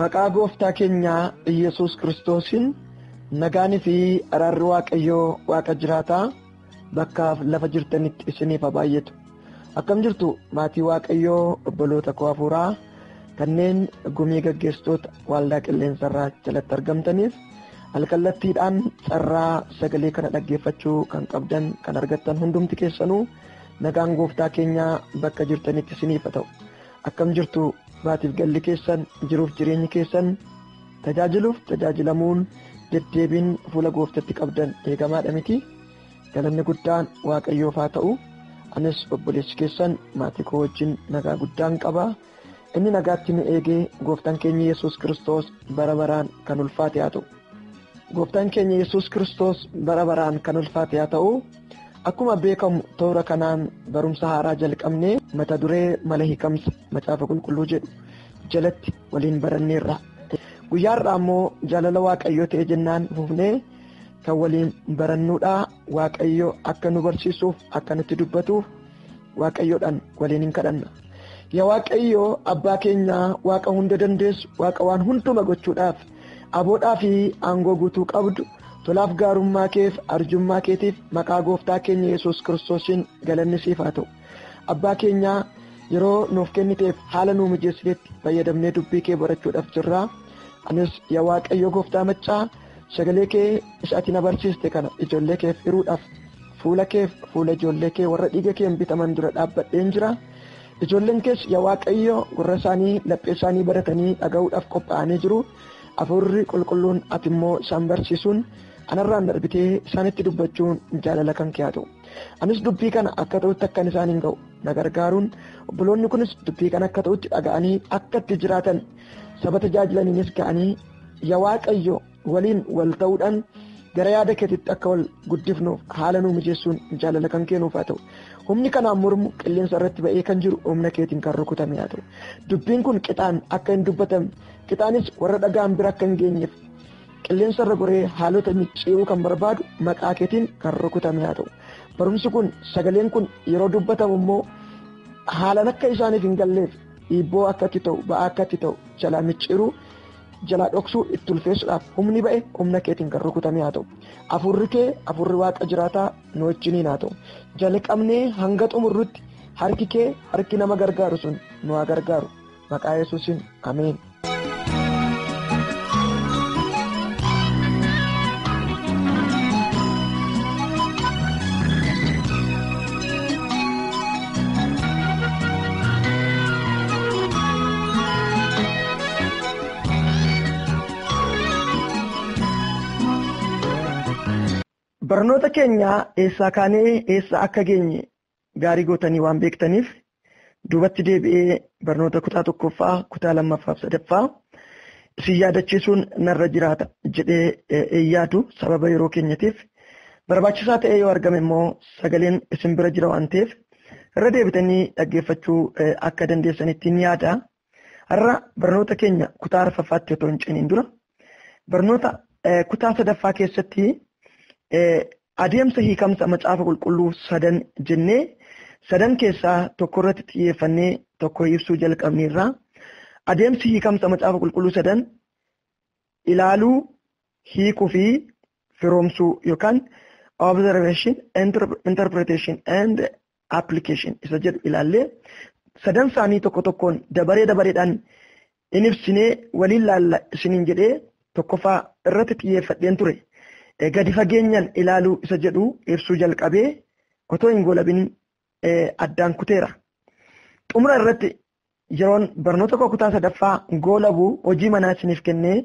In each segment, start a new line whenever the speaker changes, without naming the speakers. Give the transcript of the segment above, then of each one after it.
Maqaa gooftaa keenyaa Iyyasuus Kiristoosiin nagaanii fi araarri Waaqayyoo Waaqa jiraataa bakkaaf lafa jirtanitti isiniif haa baay'atu. Akkam jirtu maatii Waaqayyoo obboloota koo hafuuraa kanneen gumii gaggeessitoota waaldaa qilleensarraa jalatti argamtaniif alkallattiidhaan carraa sagalee kana dhaggeeffachuu kan qabdan kan argattan hundumti keessanuu nagaan gooftaa keenyaa bakka jirtanitti isiniif haa ta'u. Akkam jirtu maatiif galli keessan jiruuf jireenyi keessan tajaajiluuf tajaajilamuun deddeebiin fuula gooftatti qabdan eegamaadha miti galanni guddaan waaqayyoof haa ta'u anis obboleessi keessan maatii koo wajjin nagaa guddaan qaba inni nagaatti nu eegee gooftaan keenya yesus kiristoos bara baraan kan ulfaate haa ta'u. Gooftaan keenya Yesuus Kiristoos bara baraan kan ulfaate haa ta'u akkuma beekamu toora kanaan barumsa haaraa jalqabnee mata duree mala hiikamsa macaafa qulqulluu jedhu jalatti waliin baranneerra. Guyyaarraa immoo jaalala waaqayyoo ta'e jennaan fufnee kan waliin barannuudha waaqayyo akka nu barsiisuuf akka nutti dubbatuuf waaqayyoodhaan waliin hin kadhanna. Yaa waaqayyoo abbaa keenyaa waaqa hunda dandeessu waaqa waan hunduma gochuudhaaf. Aboodhaa fi aangoo guutuu qabdu, tolaaf gaarummaa keef arjummaa keetiif maqaa gooftaa keenya Yesuus Kiristoosiin galanni siif haa ta'u. Abbaa keenyaa yeroo nuuf kenniteef haala nuu mijeessitetti fayyadamnee dubbii kee barachuudhaaf jirra. Anis yaa Waaqayyo gooftaa maccaa sagalee kee isa ati na barsiiste kana ijoollee keef hiruudhaaf fuula keef fuula ijoollee kee warra dhiiga keen bitaman dura dhaabbadheen jira. Ijoolleen kees yaa Waaqayyo, gurra isaanii, laphee isaanii baratanii dhaga'uudhaaf qophaa'anii jiru, Hafuurri Qulqulluun ati immoo isaan barsiisuun anarraan darbitee isaanitti dubbachuun jaalala kan kee haa ta'u. Anis dubbii kana akka ta'utti akkan isaaniin ga'u na gargaaruun obboloonni kunis dubbii kana akka ta'utti dhaga'anii akka itti jiraatan saba tajaajilaniinis ga'anii yaa Waaqayyo waliin wal ta'uudhaan gara yaada keetitti akka wal guddifnuuf haala nuu mijeessuun jaalala kan keenuuf haa ta'u humni kanaan mormu qilleensa irratti ba'ee kan jiru humna keetiin kan rukutame haa ta'u dubbiin kun qixaan akka hin dubbatamne qixaanis warra dhagaan bira akka hin geenyeef qilleensa irra goree haalota micciiruu kan barbaadu maqaa keetiin kan rukutame haa ta'u barumsi kun sagaleen kun yeroo dubbatamu immoo haalan akka isaaniif hin galleef dhiibboo akkatti ta'u ba'aa akkatti ta'u jalaa micciiruu jalaa dhoksuu itti ulfeessuudhaaf humni ba'e humna keetiin kan rukutamee haa ta'u afurri kee afurri waaqa jiraataa nu wajjiniin haa ta'u jalqabnee hanga xumurrutti harki kee harki nama gargaaru sun nu haa gargaaru maqaa yesuusin ameen. Barnoota keenya eessaa kaanee eessa akka geenye gaarii gootanii waan beektaniif duubatti deebi'ee barnoota kutaa tokkoffaa kutaa lammaffaaf sadaffaa isin yaadachiisuun narra jiraata jedhee hin yaadu sababa yeroo keenyatiif barbaachisaa ta'ee yoo argame immoo sagaleen isin bira jira waan ta'eef irra deebitanii dhaggeeffachuu akka dandeessanittiin yaada Har'a barnoota keenya kutaa arfaffaatti otoo hin ceeniin dura barnoota eh, kutaa sadaffaa keessatti eh, adeemsa hiikamsa macaafa qulqulluu sadan jennee sadan keessaa tokko irratti xiyyeeffannee tokko ibsuu jalqabneerra. Adeemsi hiikamsa macaafa qulqulluu sadan ilaaluu, hiikuu fi firoomsuu yookaan observation, interp- interpretation and application isa jedhu ilaallee sadan isaanii tokko tokkoon dabaree dabareedhaan in ibsinee waliin laalla isiniin jedhee tokkoffaa irratti xiyyeeffadheen ture. Gadi fageenyaan ilaaluu isa jedhu ibsuu jalqabee otoo hin goolabin addaan kuteera. Xumura irratti Yeroon barnoota koo kutaa sadaffaa goolabu hojii manaa isiniif kennee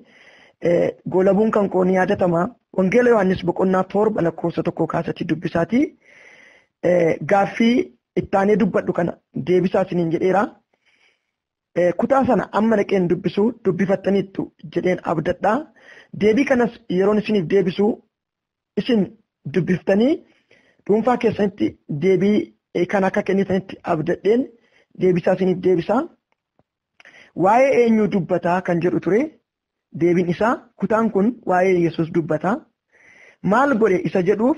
goolabuun kan koo ni yaadatama. Wangeela Yohaannis boqonnaa torba lakkoofsa tokkoo kaasatti dubbisaatii gaaffii ittaanee dubbadhu kana deebisaa isiniin jedheera. Kutaa sana amma dhaqeen dubbisu dubbifattaniittu jedheen abdadha. Deebii kanas yeroon isiniif deebisu isin dubbiftanii dhuunfaa keessanitti deebii kan akka kennitanitti abdadheen deebisaa isiniif deebisaa. Waa'ee eenyuu dubbataa kan jedhu ture deebiin isaa kutaan kun waa'ee Yesuus dubbataa. Maal godhe isa jedhuuf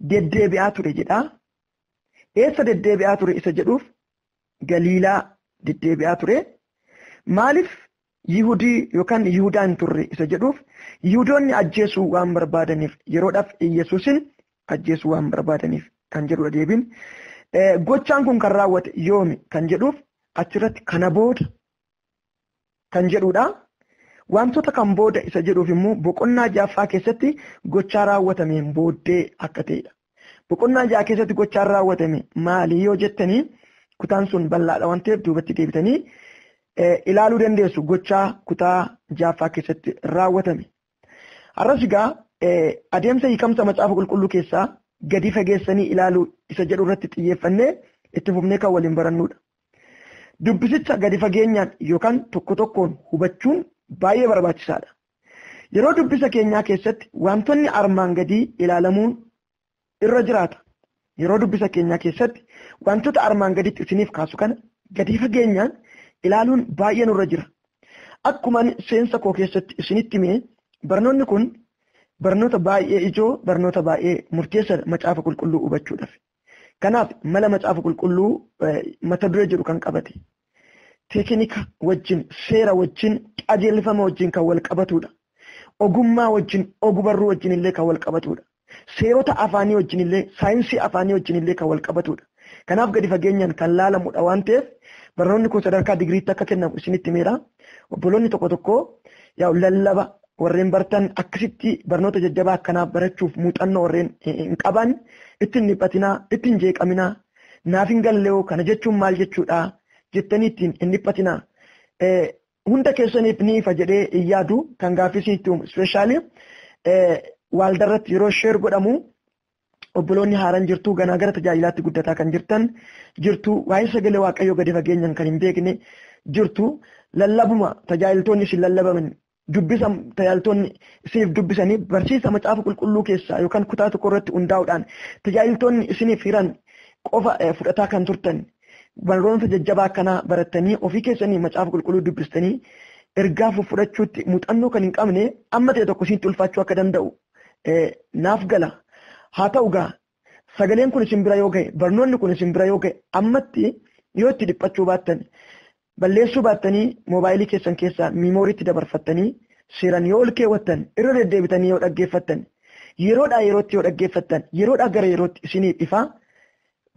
deddeebi'aa ture jedhaa. Eessa deddeebi'aa ture isa jedhuuf Galiilaa deddeebi'aa ture. Maaliif Yihudii yookaan Yihudaa hin turre isa jedhuuf Yihudoonni ajjeesuu waan barbaadaniif yeroodhaaf Iyyasuusin ajjeesuu waan barbaadaniif kan jedhudha deebiin. Gochaan kun kan raawwate yoomi kan jedhuuf achirratti kana booda kan jedhudha. Wantoota kan booda isa jedhuuf immoo boqonnaa jaaffaa keessatti gochaa raawwatameen booddee akka ta'edha. Boqonnaa ja'a keessatti gochaan raawwatame maali yoo jettanii kutaan sun bal'aadha waan ta'eef duubatti deebitanii ilaaluu dandeessu gochaa kutaa jaaffaa keessatti raawwatame. Har'as egaa adeemsa hiikamsa macaafa qulqulluu keessaa gadi fageessanii ilaaluu isa jedhu irratti xiyyeeffannee itti fufnee kan waliin barannudha. Dubbisicha gadi fageenyaan yookaan tokko tokkoon hubachuun baay'ee barbaachisaadha. Yeroo dubbisa keenyaa keessatti waantonni armaan gadii ilaalamuun irra jiraata. Yeroo dubbisa keenyaa keessatti waantota armaan gaditti isiniif kaasu kana gadi fageenyaan ilaaluun baay'ee nurra jira. Akkuman seensa koo keessatti isinitti hime barnoonni kun barnoota baay'ee ijoo, barnoota baay'ee murteessadha macaafa qulqulluu hubachuudhaaf. Kanaaf mala macaafa qulqulluu mata duree jedhu kan qabate teekinika wajjin, seera wajjin, qajeelfama wajjin kan wal qabatudha. Ogummaa wajjin, ogbarruu wajjin illee kan wal qabatudha. Seerota afaanii wajjin illee, saayinsii afaanii wajjin illee kan wal qabatudha. Kanaaf gadi fageenyaan kan laalamudha waan ta'eef barnoonni kun sadarkaa digiriitti akka kennamu isinitti himeera. Obboloonni tokko tokko lallaba Warreen bartan akkasitti barnoota jajjabaa akkanaa barachuuf muuxannoo warreen hin qaban ittiin dhiphatinaa, ittiin jeeqaminaa, naaf hin galleoo kana jechuun maal jechuudha jettanii ittiin hin dhiphatinaa. Hunda keessaniif ni ifa jedhee hin yaadu kan gaaffii isinitti uumu ispeeshaalii waaldarratti yeroo sheer godhamu obboloonni haaran jirtu ganaa gara tajaajilaatti guddataa kan jirtan jirtu waa'ee sagalee waaqayyoo gadi fageenyaan kan hin beekne jirtu lallabuma tajaajiltoonni isin lallabaman dubbisa tajaajiltoonni isiniif dubbisanii barsiisa macaafa qulqulluu keessaa yookaan kutaa tokko irratti hundaa'uudhaan tajaajiltoonni isiniif hiran qofa fudhataa kan turtan barnoota jajjabaa akkanaa barattanii ofii keessanii macaafa qulqulluu dubbistanii ergaa fudhachuutti muuxannoo kan hin qabne amma ta'e tokko isinitti ulfaachuu akka danda'u naaf gala haa ta'u gaa sagaleen kun isin bira yoo ga'e barnoonni kun isin bira yoo ga'e ammatti yoo itti dhiphachuu baattan balleessuu baattanii moobaayilii keessan keessaa miimooriitti dabarfattanii seeran yoo ol keewwattan irra deddeebitanii yoo dhaggeeffattan yeroodhaa yerootti yoo dhaggeeffattan yeroodhaa gara yerootti isiniif ifaa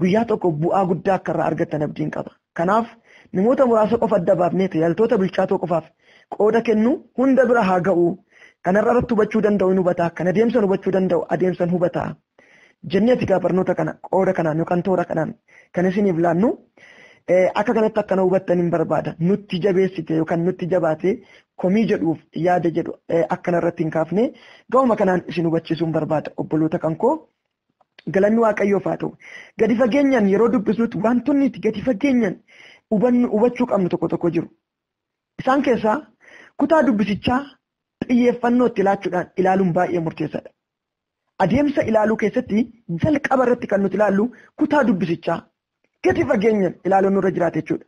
guyyaa tokko bu'aa guddaa akka irraa argattan abdiin qaba. Kanaaf, namoota muraasa qofa adda baafnee tajaajiltoota bilchaatoo qofaaf qooda kennuu hunda bira haa ga'u, kana irraa irratti hubachuu danda'u in hubata, kan adeemsan hubachuu danda'u adeemsan hubata jennee ti gaa barnoota kana qooda kanaan yookaan toora kanaan kan isiniif laannu akka kanatti akkana hubattan hin barbaada. Nutti jabeessite yookaan nutti jabaate komii jedhuuf yaada jedhu akkana irratti hin kaafne ga'uma kanaan isin hubachiisuun barbaada obboloota kan koo Galanni Waaqayyoof haa ta'u. Gadi fageenyaan yeroo dubbisnutti waantonni nuti gadi fageenyaan hubannu hubachuu qabnu tokko tokko jiru. Isaan keessaa kutaa dubbisichaa xiyyeeffannoo itti laachuudhaan ilaaluun baay'ee murteessaadha. Adeemsa ilaaluu keessatti jalqaba irratti kan nuti ilaallu kutaa dubbisichaa gadi fageenyaan ilaaluun nurra jiraata jechuudha.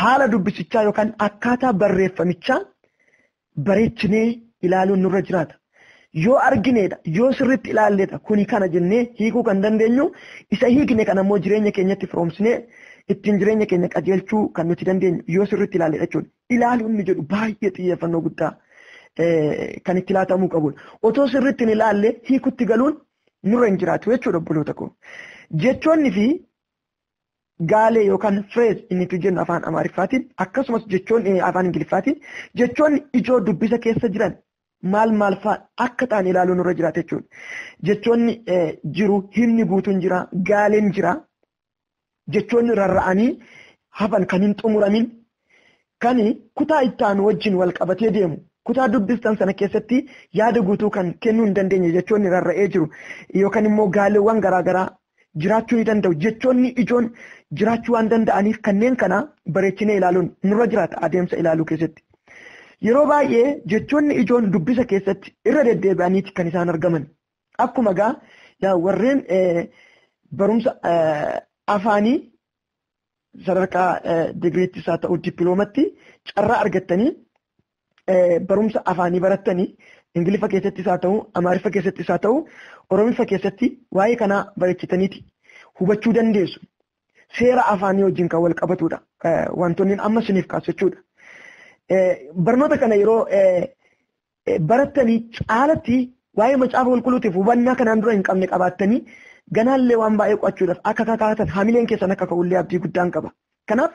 Haala dubbisichaa yookaan akkaataa barreeffamichaa bareechinee ilaaluun nurra jiraata. Yoo argineedha, yoo sirriitti ilaalleedha kuni kana jennee hiikuu kan dandeenyu isa hiikne kana immoo jireenya keenyatti firoomsinee ittiin jireenya keenya qajeelchuu kan nuti dandeenyu yoo sirriitti ilaalleedha jechuudha. Ilaaluun inni jedhu baay'ee xiyyeeffannoo guddaa kan itti laatamuu qabudha. Otoo sirriitti hin ilaalle hiikutti galuun nurra hin jiraatu jechuudha obboloota koo. Jechoonni fi gaalee yookaan firees inni tu jennu afaan amaariffaatiin akkasumas jechoonni afaan ingiliffaatiin jechoonni ijoo dubbisa keessa jiran maal maal fa'a akka ta'an ilaaluun irra jiraata jechuudha. Jechoonni jiru himni guutuun jira gaaleen jira jechoonni rarra'anii hafan kan hin xumuramin kan kutaa itti aanu wajjin wal qabatee deemu kutaa dubbistan sana keessatti yaada guutuu kan kennuu hin dandeenye jechoonni rarra'ee jiru yookaan immoo gaaleewwan garaagaraa jiraachuu ni danda'u. Jechoonni ijoon jiraachuu waan danda'aniif kanneen kana bareechinee ilaaluun nurra jiraata adeemsa ilaaluu keessatti. Yeroo baay'ee jechoonni ijoon dubbisa keessatti irra deddeebi'aniiti kan isaan argaman. Akkuma gaa yaa warreen barumsa afaanii sadarkaa digiriittis haa ta'u dippiloomatti carraa argattanii barumsa afaanii barattanii Ingiliffa keessattis haa ta'u, Amaariffa keessattis haa ta'u, Oromiffa keessatti waa'ee kanaa bareechitaniiti hubachuu dandeessu. Seera afaanii wajjin kan wal qabatudha. Wantoonni amma isiniif kaasu jechuudha. Barnoota kana yeroo barattanii caalatti waa'ee macaafa qulqulluutiif hubannaa kanaan dura hin qabne qabaattanii ganaallee waan baay'ee qo'achuudhaaf akka kakaatan hamileen keessan akka ka'ullee abdii guddaan qaba. Kanaaf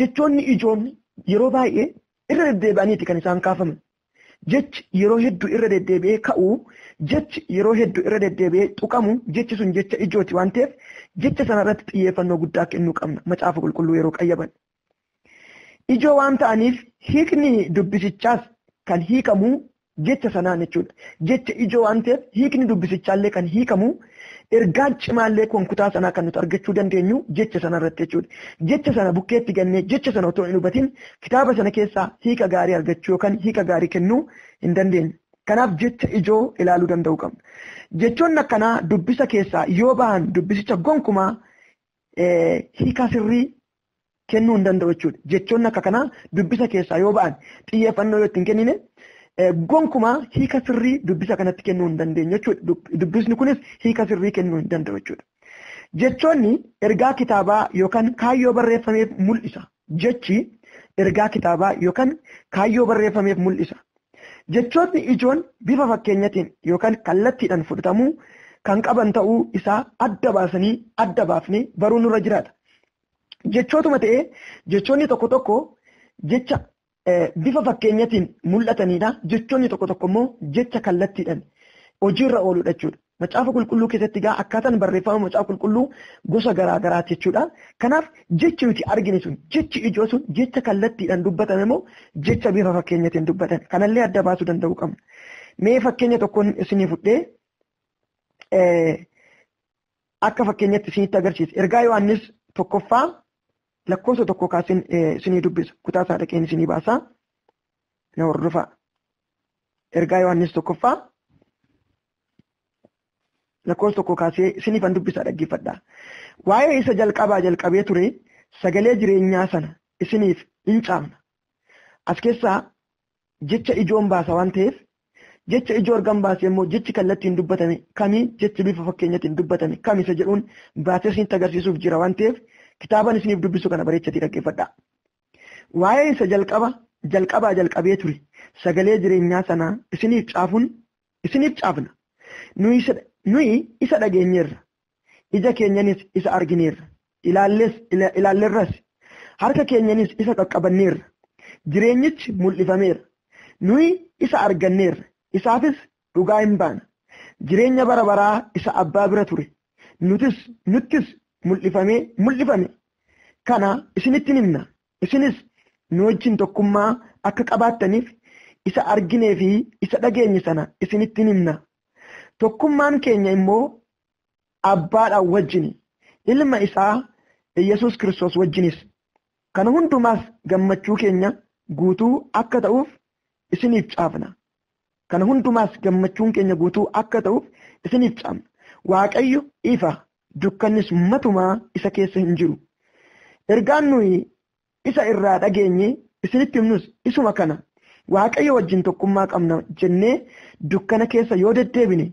jechoonni ijoon yeroo baay'ee Irra deddeebi'aniiti kan isaan kaafaman. Jechi yeroo heddu irra deddeebi'ee ka'u, jechi yeroo heddu irra deddeebi'ee tuqamu, jechi sun jecha ijooti waan ta'eef jecha sana irratti xiyyeeffannoo guddaa kennuu qabna Macaafa Qulqulluu yeroo qayyabannu. Ijoo waan ta'aniif hiikni dubbisichaas kan hiikamu jecha sanaan jechuudha. Jecha ijoo waan ta'eef hiikni dubbisichaallee kan hiikamu ergaan cimaallee kun kutaa sanaa kan nuti argachuu dandeenyu jecha sana irratti jechuudha. Jecha sana bukkeetti gannee jecha sana otoo hin hubatin kitaaba sana keessaa hiika gaarii argachuu yookaan hiika gaarii kennuu hin dandeenyu. Kanaaf jecha ijoo ilaaluu danda'uu qabna. Jechoonni akkanaa dubbisa keessaa yoo bahan dubbisicha gonkumaa hiikaa sirrii kennuu hin danda'u jechuudha. Jechoonni akka kanaa dubbisa keessaa yoo ba'an xiyyeeffannoo yoo itti hin kennine gonkumaa hiika sirrii dubbisa kanatti kennuu hin dandeenye jechuudha. Dubbisni kunis hiika sirrii kennuu hin danda'u jechuudha. Jechoonni ergaa kitaabaa yookaan kaayyoo barreeffameef mul'isa. Jechi ergaa kitaabaa yookaan kaayyoo barreeffameef mul'isa. Jechootni ijoon bifa fakkeenyatiin yookaan kallattiidhaan fudhatamuu kan qaban ta'uu isaa adda baasanii adda baafnee baruun nurra jiraata. Jechootuma ta'ee jechoonni tokko tokko jecha bifa fakkeenyatiin mul'atanidha. Jechoonni tokko tokko immoo jecha kallattiidhaan hojiirra ooludha jechuudha. Macaafa qulqulluu keessatti egaa akkaataan barreeffama macaafa qulqulluu gosa garaa garaati jechuudha. Kanaaf jechi nuti argine sun jechi ijoo sun jecha kallattiidhaan dubbatame moo jecha bifa fakkeenyatiin dubbatame kanallee adda baasuu danda'uu qabna. Mee fakkeenya tokkoon isinii fudhee akka fakkeenyatti isinitti agarsiisa. Ergaa Yohaannis tokkoffaa lakkoofsa tokko kaasin isinii dubbisa. Kutaa isaa dhaqeen isinii baasaa. Na hordofaa. Ergaa Yohaannis tokkoffaa lakkoofsa tokko kaasee isiniif an dubbisa dhaggeeffadha. Waa'ee isa jalqabaa jalqabee ture sagalee jireenyaa sana isiniif in caafna. As keessaa jecha ijoon baasa waan ta'eef jecha ijoo ergan baasee immoo jechi kallattiin dubbatame kami jechi bifa fakkeenyatiin dubbatame kami isa jedhuun baasee isinitti agarsiisuuf jira waan ta'eef kitaaban isiniif dubbisu kana bareechatii dhaggeeffadhaa. Waa'ee isa jalqaba jalqabaa jalqabee ture sagalee jireenyaa sanaa isiniif caafuun isiniif caafna. Nuyi isa dhageenyeerra Ija keenyanis isa argineerra, ilaallees ilaallerras, harka keenyanis isa qaqqabanneerra. Jireenyichi mul'ifameera, nuyi isa arganneerra, isaafis dhugaa in baana. Jireenya bara baraa isa Abbaa bira ture, nutis nuttis mul'ifamee mul'ifame kana isinitti in himna, isinis nu wajjin tokkummaa akka qabaattaniif isa arginee fi isa dhageenye sana isinitti in himna. Tokkummaan keenya immoo abbaadhaan wajjin ilma isaa Iyyasuus Kiristoos wajjinis kana hundumaas gammachuu keenya guutuu akka ta'uuf isiniif caafna. Kana hundumaas gammachuun keenya guutuu akka ta'uuf isiniif caafna. Waaqayyo ifa dukkannis matumaa isa keessa hin jiru. Ergaan nuyi isa irraa dhageenye isinitti himnus isuma kana. Waaqayyo wajjin tokkummaa qabna jennee dukkana keessa yoo deddeebine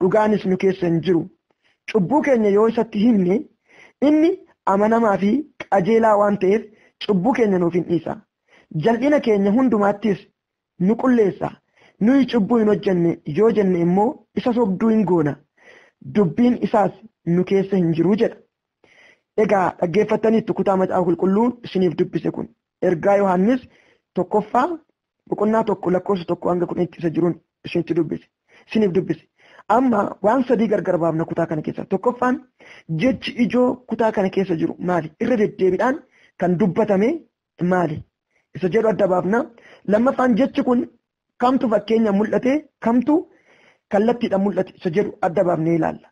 dhugaanis nu keessa hin jiru. Cubbuu keenya yoo isatti himne, inni amanamaa fi qajeelaa waan ta'eef cubbuu keenya nuuf in dhiisa. Jal'ina keenya hundumaattis nu qulleessa. Nuyi cubbuu hin hojjenne yoo jenne immoo isa sobduu in goona. Dubbiin isaas nu keessa hin jiru jedha. Egaa dhaggeeffattaniittu kutaa macaafa qulqulluu isiniif dubbise kun. Ergaa Yohaannis tokkoffaa boqonnaa tokko lakkoofsa tokko hanga kudhan itti isa jiruun isinitti dubbise. Isiniif dubbise. Amma waan sadii gargar baafna kutaa kana keessaa. Tokkoffaan jechi ijoo kutaa kana keessa jiru maali? Irra deddeebiidhaan kan dubbatame maali? Isa jedhu adda baafna. Lammaffaan jechi kun kamtu fakkeenya mul'ate kamtu kallattiidhaan mul'ate isa jedhu adda baafnee ilaalla.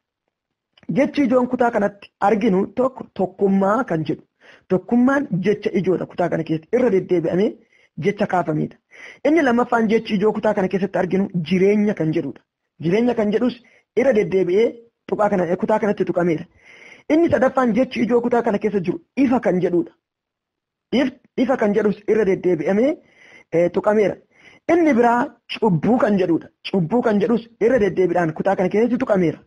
Jechi ijoon kutaa kanatti arginu tokko tokkummaa kan jedhu. Tokkummaan jecha ijoodha kutaa kana keessatti irra deddeebi'amee jecha kaafamedha. Inni lammaffaan jechi ijoo kutaa kana keessatti arginu jireenya kan jedhudha. Jireenya kan jedhus irra deddeebi'ee tuqaa kana kutaa kanatti tuqameera. Inni sadaffaan jechi ijoo kutaa kana keessa jiru ifa kan jedhudha. ifa kan jedhus irra deddeebi'amee tuqameera. Inni biraa cubbuu kan jedhudha. Cubbuu kan jedhus irra deddeebiidhaan kutaa kana keessatti tuqameera.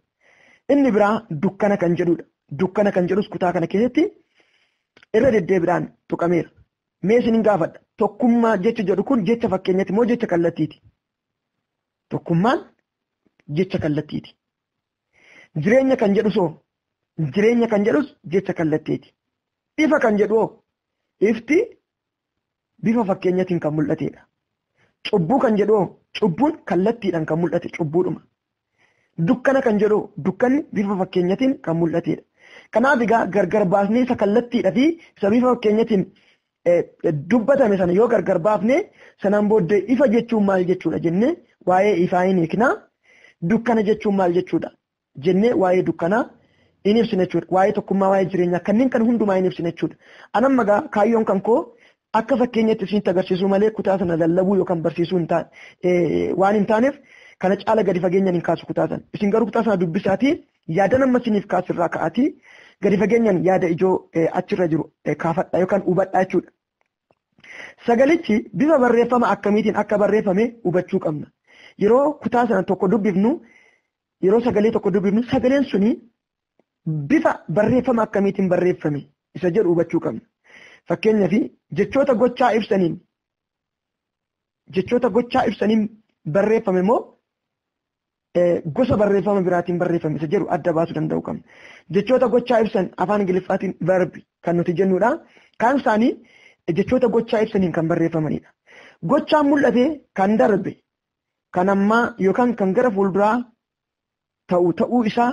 Inni biraa dukkana kan jedhudha. Dukkana kan jedhus kutaa kana keessatti irra deddeebiidhaan tuqameera. Mee isin gaafadha. Tokkummaa jecha jedhu kun jecha fakkeenyati moo jecha kallattiiti? Tokkummaan jecha kallattiiti. Jireenya kan jedhusoo? Jireenya kan jedhus jecha kallatteeti. Ifa kan jedhu hoo? Ifti bifa fakkeenyatiin kan mul'ateedha. Cubbuu kan jedhu hoo? Cubbuun kallattiidhaan kan mul'ate cubbuudhuma. Dukkana kan jedhu dukkanni bifa fakkeenyatiin kan mul'ateedha. Kanaaf egaa gargar baasnee isa kallattiidha fi isa bifa fakkeenyatiin dubbatame sana yoo gargar baafne sanaan booddee ifa jechuun maal jechuudha jennee waa'ee ifaa hin hiikna dukkana jechuun maal jechuudha jennee waa'ee dukkanaa hin ibsine jechuudha waa'ee tokkummaa waa'ee jireenyaa kanneen kan hundumaa hin ibsine jechuudha anamma gaa kaayyoon kan koo akka fakkeenyatti isinitti agarsiisuu malee kutaa sana lallabuu yookaan barsiisuu hin taane waan hin taaneef kana caala gadi fageenyaan hin kaasu kutaa sana isin garuu kutaa sana dubbisaatii Yaadan amma isiniif kaasu irraa ka'aatii gadi fageenyaan yaada ijoo achirra jiru kaafadha yookaan hubadhaa jechuudha. Sagalichi bifa barreeffama akkamiitiin akka barreeffame hubachuu qabna. Yeroo kutaa sana tokko dubbifnu yeroo sagalee tokko dubbifnu sagaleen suni bifa barreeffama akkamiitiin barreeffame isa jedhu hubachuu qabna. Fakkeenyaaf jechoota gochaa ibsaniin jechoota gochaa ibsaniin barreeffame immoo gosa barreeffama biraatiin barreeffame isa jedhu adda baasuu danda'uu qabna. Jechoota gochaa ibsan afaan Ingiliffaatiin verb kan nuti jennudha. Kaan isaanii jechoota gochaa ibsaniin kan barreeffamanidha. Gochaan mul'ate kan darbe kan ammaa yookaan kan gara fuulduraa ta'u ta'uu isaa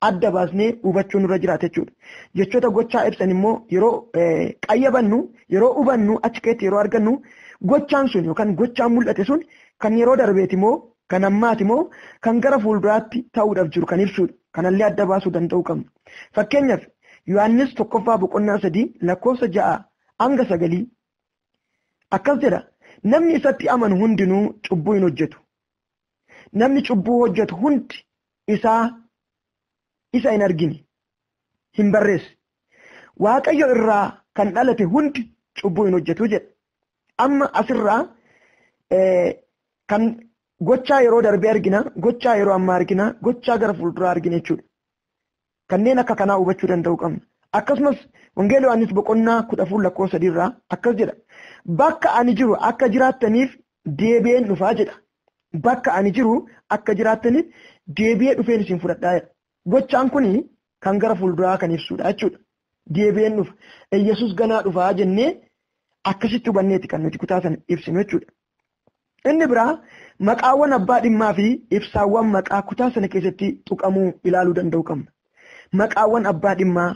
adda baasnee hubachuu nurra jiraata jechuudha. Jechoota gochaa ibsan immoo yeroo qayyabannu, yeroo hubannu, achi keessatti yeroo argannu gochaan sun yookaan gochaan mul'ate sun kan yeroo darbeeti moo kan ammaati moo kan gara fuulduraatti ta'uudhaaf jiru kan ibsudha. Kanallee adda baasuu danda'uu qabna. Fakkeenyaaf Yohaannis tokkoffaa boqonnaa sadii lakkoofsa ja'a hanga sagalii akkas jedha. Namni isatti amanu hundinuu cubbuu hin hojjetu. namni cubbuu hojjetu hundi isaa isa hin argine hin barreesse waaqayyo irraa kan dhalate hundi cubbuu hin hojjetu jedha amma asirraa kan gochaa yeroo darbee argina gochaa yeroo ammaa argina gochaa gara fuulduraa argina jechuudha Kanneen akka kanaa hubachuu danda'uu qabna. Akkasumas Wangeela Yohaannis boqonnaa 14 lakkoofsa 3 irraa akkas jedha. Bakka ani jiru akka jiraattaniif deebi'een dhufaa jedha. Bakka ani jiru akka jiraattaniif deebi'ee dhufeen isin fudhadhaa jedha. Gochaan kun kan gara fuulduraa kan ibsudha jechuudha. Deebi'een dhufa. Yesus ganaa dhufaa jennee akkasitti hubanneeti kan nuti kutaa sana ibsinu jechuudha. Inni biraa maqaawwan abbaa dhimmaa fi ibsaawwan maqaa kutaa sana keessatti tuqamuu ilaaluu danda'uu qabna. Maqaawwan abbaa dhimmaa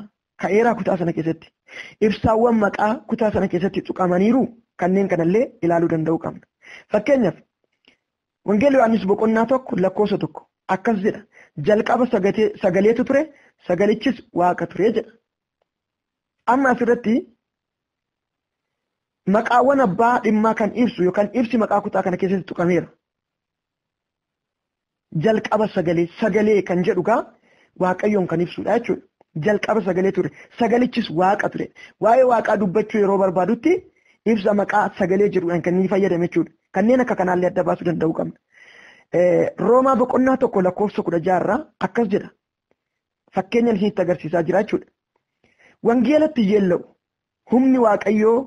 ka'eeraa kutaa sana keessatti? Ibsaawwan maqaa kutaa sana keessatti tuqamaniiruu? Kanneen kanallee ilaaluu danda'uu qabna. Fakkeenyaaf, Wangeela Yohaannis boqonnaa tokko lakkoofsa tokko akkas jedha, jalqaba sagaleetu ture, sagalichis waaqa ture jedha. Amma asirratti maqaawwan abbaa dhimmaa kan ibsu yookaan ibsi maqaa kutaa kana keessatti tuqameera. Jalqaba sagalee sagalee kan jedhu gaa waaqayyoon kan ibsudha jechuudha. Jalqaba sagalee ture. Sagalichis waaqa ture. Waa'ee waaqaa dubbachuu yeroo barbaadutti ibsa maqaa sagalee jedhuudhaan kan inni fayyadame jechuudha. Kanneen akka kanaallee adda baasuu danda'uu qabna. Roomaa boqonnaa tokko lakkoofsa kudha jaha irraa akkas jedha. fakkeenyan isinitti agarsiisaa jira jechuudha. Wangeelatti yeella'u humni waaqayyoo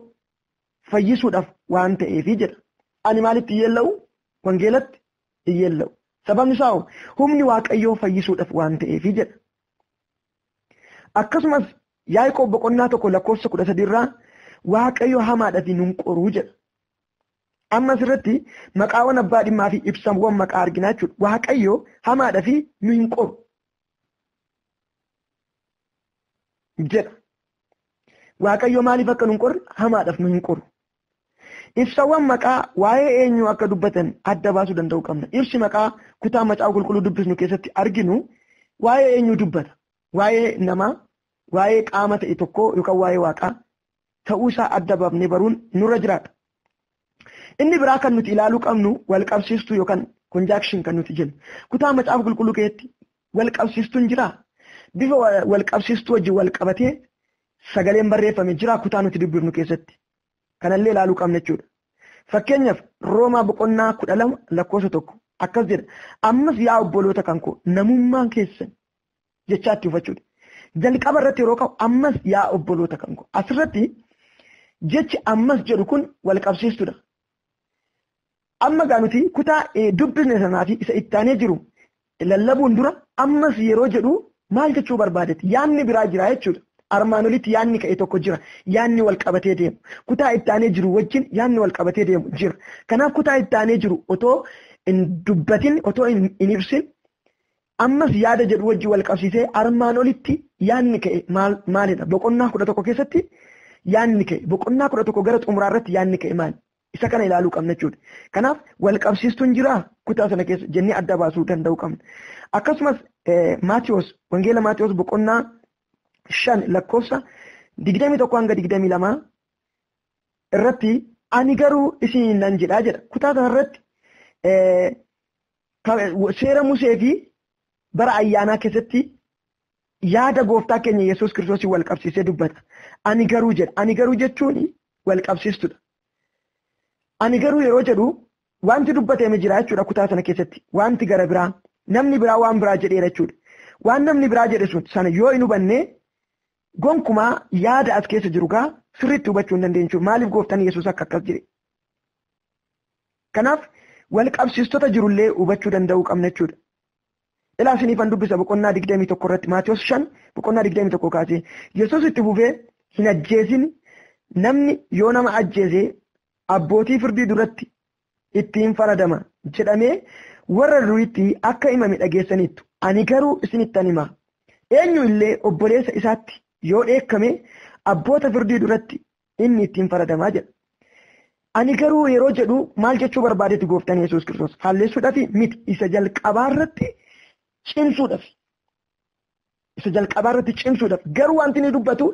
fayyisuudhaaf waan ta'eefi jedha. Ani maalitti yeella'u? Wangeelatti yeella'u. Sababni isaa hoo humni waaqayyoo fayyisuudhaaf waan ta'eefi jedha. Akkasumas Yaaqoob boqonnaa tokko lakkoofsa kudha sadiirraa waaqayyo hamaadhaaf nun qoruu jedha. Amma asirratti maqaawwan abbaa dhimmaa fi ibsamwwan maqaa arginaa jechuudha. Waaqayyo hamaadha fi nu hin qoru. jedha. Waaqayyo maaliif akka nu hin qorre hamaadhaaf nu hin qoru. Ibsawwan maqaa waa'ee eenyuu akka dubbatan adda baasuu danda'uu qabna. Ibsi maqaa kutaa macaafa qulqulluu dubbisnu keessatti arginu waa'ee eenyuu dubbata. Waa'ee namaa, waa'ee qaama ta'e tokkoo yookaan waa'ee waaqaa ta'uu isaa adda bafnee baruun nurra jiraata. Inni biraa kan nuti ilaaluu qabnu wal qabsiistuu yookaan conjunction kan nuti jennu. Kutaa macaafa qulqulluu keessatti wal qabsiistuun jira. Bifa wal qabsiistuu wajjin wal qabatee sagaleen barreeffame jira kutaa nuti dubbifnu keessatti. Kanallee ilaaluu qabna jechuudha. Fakkeenyaaf Roomaa boqonnaa kudha lama lakkoofsa tokko akkas jedha. Ammas yaa obboloota kan koo namummaan keessan jechaa itti hubachuudha. Jalqaba irratti yeroo ka'u ammas yaa obboloota kan koo asirratti jechi ammas jedhu kun wal qabsiistudha. Amma gaa nuti kutaa eh, dubbisne sanaa fi isa itti aanee jiru lallabuun dura ammas yeroo jedhu maal jechuu barbaadetti yaanni biraa jira jechuudha. Armaan olitti yaanni ka'e tokko jira. Yaanni wal qabatee deemu. Kutaa itti aanee jiru wajjin yaanni wal qabatee deemu jira. Kanaaf kutaa itti aanee jiru otoo hin dubbatin otoo hin hin ibsin Ammas yaada jedhu wajji wal qabsiisee armaan olitti yaadni ka'e maal maalidha? Boqonnaa kudha tokko keessatti yaadni ka'e boqonnaa kudha tokko gara xumuraa irratti yaadni ka'e maali? Isa kana ilaaluu qabna jechuudha. Kanaaf wal qabsiistuun jiraa kutaa sana keessa jennee adda baasuu danda'uu qabna. Akkasumas Maatiyoos wangeela Maatiyoos boqonnaa shan lakkoofsa digdamii tokko hanga digdamii lamaa irratti ani garuu isin nan jedhaa jedha. Kutaa sana irratti seera Musee fi bara ayyaanaa keessatti yaada gooftaa keenya Yesuus Kiristoosii wal qabsiisee dubbata. Ani garuu jedha. Ani garuu jechuun wal qabsiistudha. Ani garuu yeroo jedhu wanti dubbatame jira jechuudha kutaa sana keessatti. Wanti gara biraa namni biraa waan biraa jedheera jechuudha. Waan namni biraa jedhe sun sana yoo hin hubanne Gonkumaa yaada as keessa jiru gaa sirriitti hubachuu hin dandeenyu jechuudha. Maaliif gooftaan Yesuus akka akkas jedhe? Kanaaf wal qabsiistota jirullee hubachuu danda'uu qabna jechuudha. Ilaa isiniifan dubbisa boqonnaa 21 irratti Maatiyos 5 boqonnaa 21 kaasee Yesuus itti fufee hin ajjeesin namni yoo nama ajjeese abbootii firdii duratti ittiin faradama jedhamee warra duriitti akka himame dhageessaniittu. Ani garuu isinittan hima. Eenyu illee obboleessa isaatti yoo dheekkame abboota firdii duratti inni ittiin faradama jedha. Ani garuu yeroo jedhu maal jechuu barbaadetti gooftaan Yesuus Kiristoos faallessuudhaaf miti isa jalqabaa irratti cimsuudhaaf. isa jalqabaa irratti cimsuudhaaf garuu wanti inni dubbatu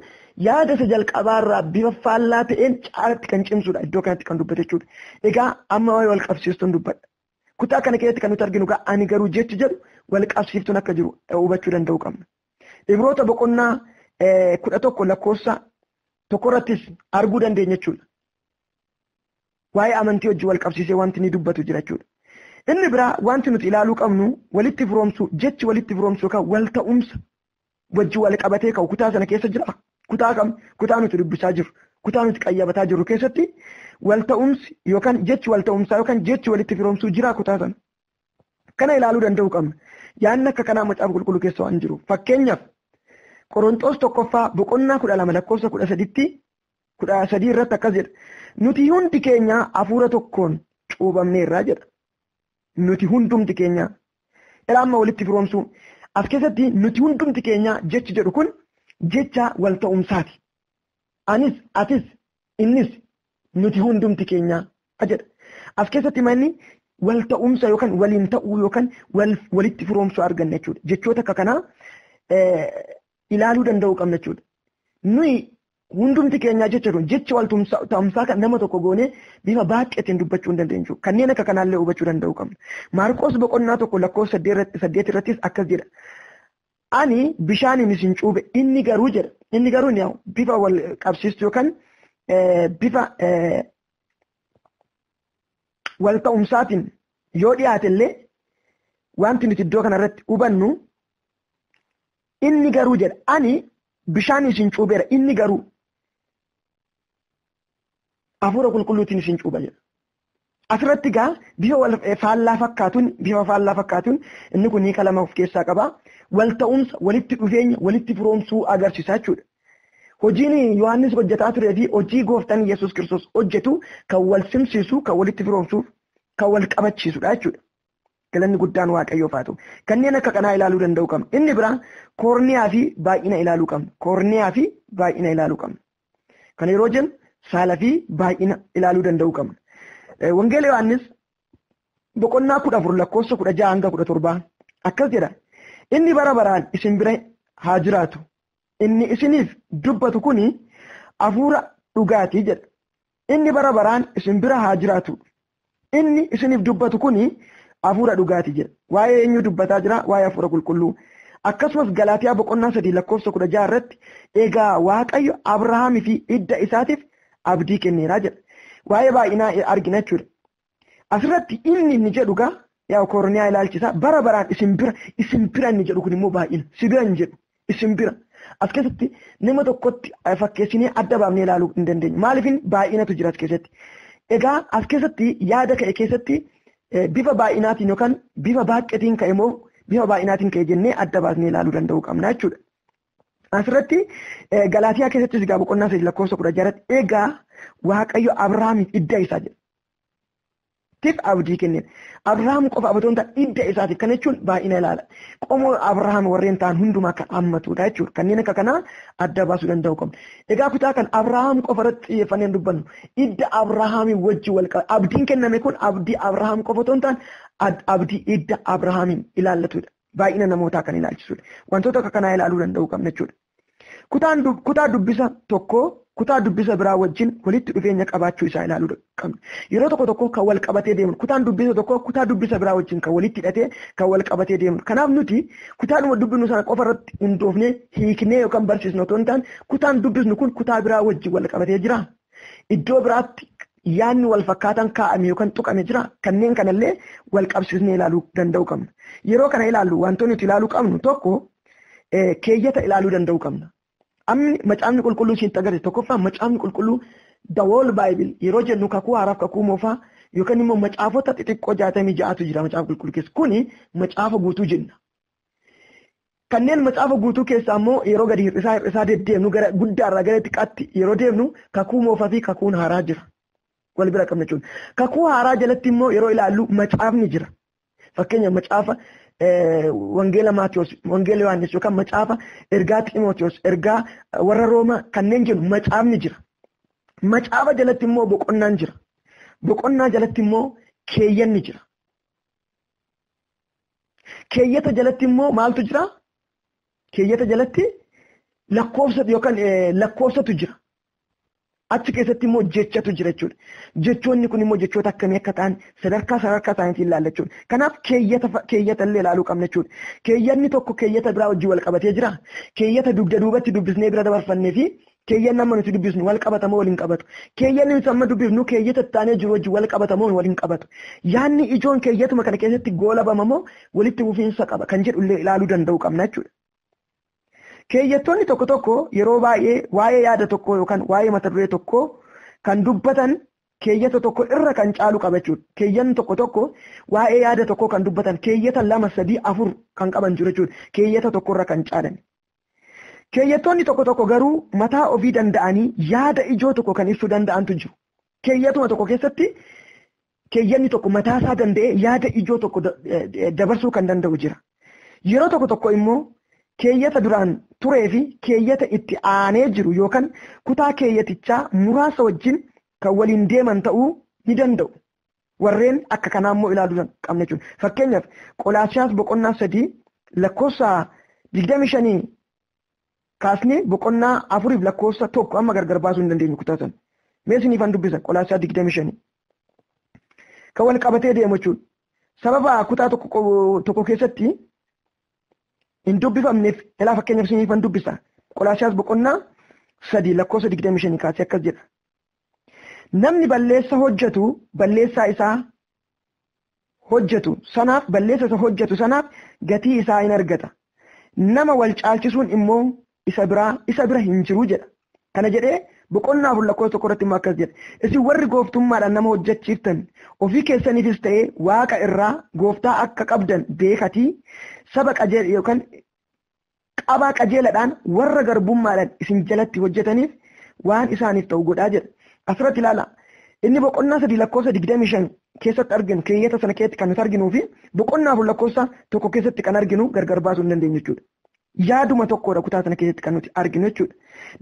yaada isa jalqabaa irraa bifa faallaa ta'een caalatti kan cimsuudha iddoo kanatti kan dubbate jechuudha. Egaa amma waa'ee wal qabsiistuun dubbadha. Kutaa kana keessatti kan nuti arginu gaa ani garuu jechi jedhu wal qabsiiftuun akka jiru hubachuu danda'uu qabna. Ibroota boqonnaa kudha tokko lakkoofsa tokkorrattis arguu dandeenya jechuudha. waa'ee amantii wajjin wal qabsiisee wanti inni dubbatu jira jechuudha. Inni biraa wanti nuti ilaaluu qabnu walitti firoomsuu jechi walitti firoomsuu yookaan wal ta'umsa wajjin wal qabatee ka'u kutaa sana keessa jira. Kutaa kam kutaa nuti dubbisaa jirru kutaa nuti qayyabataa jirru keessatti wal ta'umsi yookaan jechi wal ta'umsaa yookaan jechi walitti firoomsuu jira kutaa sana. Kana ilaaluu danda'uu qabna. Yaanni akka kanaa macaafa qulqulluu keessa waan jiru. Fakkeenyaaf Qorontoos tokkoffaa boqonnaa kudha lama lakkoofsa kudha saditti kudha sadii irratti akkas jedha. Nuti hundi keenya hafuura tokkoon cuubamneerra jedha. Nuti hundumti keenya ilaa amma walitti firoomsuu as keessatti nuti hundumti keenya jechi jedhu kun jecha wal ta'umsaati. Anis, atis, innis nuti hundumti keenya jedha. As keessatti manni wal ta'umsa yookaan waliin ta'uu yookaan walitti firoomsuu arganna jechuudha. Jechoota akka kanaa ilaaluu danda'uu qabna jechuudha. Nuyi hundumti keenyaa jecha kun jecha wal ta'umsaa kan nama tokko goone bifa baay'eetiin dubbachuu hin dandeenyu. Kanneen akka kanaallee hubachuu danda'uu qabna. Maarqoos boqonnaa tokko lakkoofsa saddeet irrattis akkas jedha. Ani bishaaniin isin cuube inni garuu jedha. Inni garuu ni bifa wal qabsiistu yookaan bifa wal ta'umsaatiin yoo dhiyaate illee wanti nuti iddoo kanarratti hubannu Inni garuu jedha ani bishaan isin cuubeera inni garuu hafuura qulqulluutiin isin cuuba jedha. Asirratti gaa bifa wal faallaa fakkaatuun bifa faallaa fakkaatuun inni kun hiika lama of keessaa qaba. Wal ta'umsa walitti dhufeenya walitti firoomsuu agarsiisa jechuudha. Hojiin Yohaannis hojjetaa turee fi hojii gooftaan Yesuus Kiristoos hojjetu kan wal simsiisu kan walitti firoomsuuf kan wal qabachiisudha jechuudha. Galanni guddaan Waaqayyoof haa ta'u. Kanneen akka kanaa ilaaluu danda'uu qabna. Inni biraa koorniyaa fi baay'ina ilaaluu qabna. Koorniyaa fi baay'ina ilaaluu qabna. Kana yeroo jennu saala fi baay'ina ilaaluu danda'uu qabna. Wangeela Yohaannis boqonnaa kudha afur lakkoofsa kudha jaha hanga kudha torbaa akkas jedha. Inni bara baraan isin bira haa jiraatu. Inni isiniif dubbatu kuni hafuura dhugaati jedha. Inni bara baraan isin bira haa jiraatu. Inni isiniif dubbatu kun hafuura dhugaati jedha. Waa'ee eenyuu dubbataa jira? Waa'ee hafuura qulqulluu. Akkasumas Galaatiyaa boqonnaa sadii lakkoofsa kudha ja'a irratti egaa Waaqayyo Abrahaamii fi hidda isaatiif abdii kenneera jedha. Waa'ee baay'inaa argina jechuudha. Asirratti inni inni jedhu gaa yaa koorniyaa ilaalchisa bara baraan isin bira isin bira inni jedhu kun immoo baay'ina si bira hin jedhu isin bira. As keessatti nama tokkotti fakkeessinee adda baafnee ilaaluu hin dandeenyu. Maaliifin baay'inatu jira as keessatti. Egaa as keessatti yaada ka'e keessatti bifa baay'inaatiin yookaan bifa baay'atiin ka'e moo bifa baay'inaatiin ka'e jennee adda baasnee ilaaluu danda'uu qabna jechuudha. Asirratti Galaatiyaa keessattis egaa boqonnaa sadii lakkoofsa kudha jaratti egaa Waaqayyo Abrahaamiif idda isaa jedha. Tiif abdii kenneen. Abrahaam qofa abdii ta'an hidda isaatiif kana jechuun baay'ina ilaala. Qomoo Abrahaam warreen ta'an hundumaa kan hammatudha jechuudha. Kanneen akka kanaa adda baasuu danda'uu qabna. Egaa kutaa kan Abrahaam qofa irratti xiyyeeffannee hin dubbannu. Hidda Abrahaamii wajji wal qaba. Abdiin kenname kun abdii Abrahaam qofa otoo hin taane abdii hidda Abrahaamiin ilaallatudha. Baay'ina namootaa kan ilaalchisudha. Wantoota akka kanaa ilaaluu danda'uu qabna jechuudha. Kutaan dub- kutaa dubbisa tokkoo kutaa dubbisa biraa wajjin walitti dhufeenya qabaachuu isaa ilaaluu dha- qabna. Yeroo tokko tokko kan wal qabatee deemnu kutaan dubbisa tokkoo kutaa dubbisa biraa wajjin kan walitti hidhatee kan wal qabatee deemnu. Kanaaf nuti kutaadhuma dubbisnu sana qofa irratti hundoofnee hiiknee yookaan barsiisnu otoo hin taane kutaan dubbisnu kun kutaa biraa wajjin wal qabatee jira. Iddoo biraatti yaadni wal fakkaataan kaa'ame yookaan tuqame jira. Kanneen kanallee wal qabsiisnee ilaaluu danda'uu qabna. Yeroo kana ilaallu wantoonni nuti ilaaluu qabnu tokko keeyyata ilaaluu danda'uu qabna. Amni macaafni qulqulluu siin agarsiisu tokkoffaa macaafni qulqulluu the whole bible yeroo jennu kakuu haaraaf kakuu moofaa yookaan immoo macaafota xixiqqoo jaatamii ja'atu jira macaafa qulqulluu keessa kuni macaafa guutuu jenna. Kanneen macaafa guutuu keessaa immoo yeroo gadi hir'isaa hir'isaa deddeemnu gara guddaarraa gara xiqqaatti yeroo deemnu kakuu moofaa fi kakuun haaraa jira. Wal bira qabna jechuudha. Kakuu haaraa jalatti immoo yeroo ilaallu macaafni jira. Fakkeenya macaafa wangeela Maatiyos, wangeela Yohaannis yookaan macaafa ergaa Ximootiyoos, ergaa warra Roomaa kanneen jennu macaafni jira. Macaafa jalatti immoo boqonnaan jira. Boqonnaa jalatti immoo keeyyanni jira. Keeyyata jalatti immoo maaltu jira? Keeyyata jalatti lakkoofsa yookaan lakkoofsatu jira. Achi keessatti immoo jechatu jira jechuudha. Jechoonni kun immoo jechoota akkamii akka ta'an sadarkaa sadarkaa isaaniitiin ilaalla jechuudha. Kanaaf keeyyata fa- keeyyata illee ilaaluu qabna jechuudha. Keeyyatni tokko keeyyata biraa wajjin wal qabatee jira. Keeyyata dugda duubatti dubbisnee bira dabarfannee fi keeyyanni amma nuti dubbisnu wal qabata moo wal hin qabatu. Keeyyanni nuti amma dubbifnu keeyyata itti aanee jiru wajjin wal qabata moo wal hin qabatu. Yaanni ijoon keeyyatuma kana keessatti goolabama moo walitti fufiinsa qaba kan jedhu illee ilaaluu danda'uu qabna jechuudha. Keeyyattoonni tokko tokko yeroo baay'ee waa'ee yaada tokkoo yookaan waa'ee mata duree tokkoo kan dubbatan keeyyata tokko irra kan caalu qaba jechuudha. Keeyyanni tokko tokko waa'ee yaada tokkoo kan dubbatan keeyyata lama sadii afur kan qaban jiru jechuudha. Keeyyata tokko irra kan caalan. Keeyyattoonni tokko tokko garuu mataa ofii danda'anii yaada ijoo tokko kan ibsuu danda'antu jiru. Keeyyatuma tokko keessatti Keeyyanni tokko mataa isaa danda'ee yaada ijoo tokko dabarsuu kan danda'u jira. Yeroo tokko tokko immoo keeyyata duraan turee fi keeyyata itti aanee jiru yookaan kutaa keeyyatichaa muraasa wajjin kan waliin deeman ta'uu ni danda'u. Warreen akka kanaa immoo ilaaluu qabna jechuudha. Fakkeenyaaf Qolaasiyaas boqonnaa sadii lakkoofsa digdamii shanii kaasnee boqonnaa afuriif lakkoofsa tokko amma gargar baasuu hin dandeenyu kutaa sana. Mee isiniifan dubbisa qolaasaa 25. Kan wal qabatee deemu jechuudha. Sababa kutaa tokko keessatti hin dubbifamneef ilaa fakkeenyaaf isiniifan dubbisa. Qolaasiyaas boqonnaa sadii lakkoofsa 25 kaasee akkas jedha. Namni balleessa hojjetu balleessaa isaa hojjatu sanaaf, balleessa isa hojjatu sanaaf gatii isaa in argata. Nama wal caalchisuun immoo isa biraa, isa bira hin jiru jedha. Kana jedhee boqonnaa 4 lakkoofsa 1 irratti immoo akkas jedha. Isin warri gooftummaadhaan nama hojjachiiftan ofii keessaniifis ta'ee waaqa irraa gooftaa akka qabdan beekatii saba qajeelaa yookaan qabaa qajeeladhaan warra garbummaadhaan isin jalatti hojjetaniif waan isaaniif ta'u godhaa jedha. Asirratti ilaala. Inni boqonnaa sadii lakkoofsa digdamii shan keessatti arginu keeyyata sana keessatti kan nuti arginuu fi boqonnaa afur lakkoofsa tokko keessatti kan arginu gargar baasuu hin dandeenyu jechuudha. Yaaduma tokkodha kutaa sana keessatti kan nuti arginu jechuudha.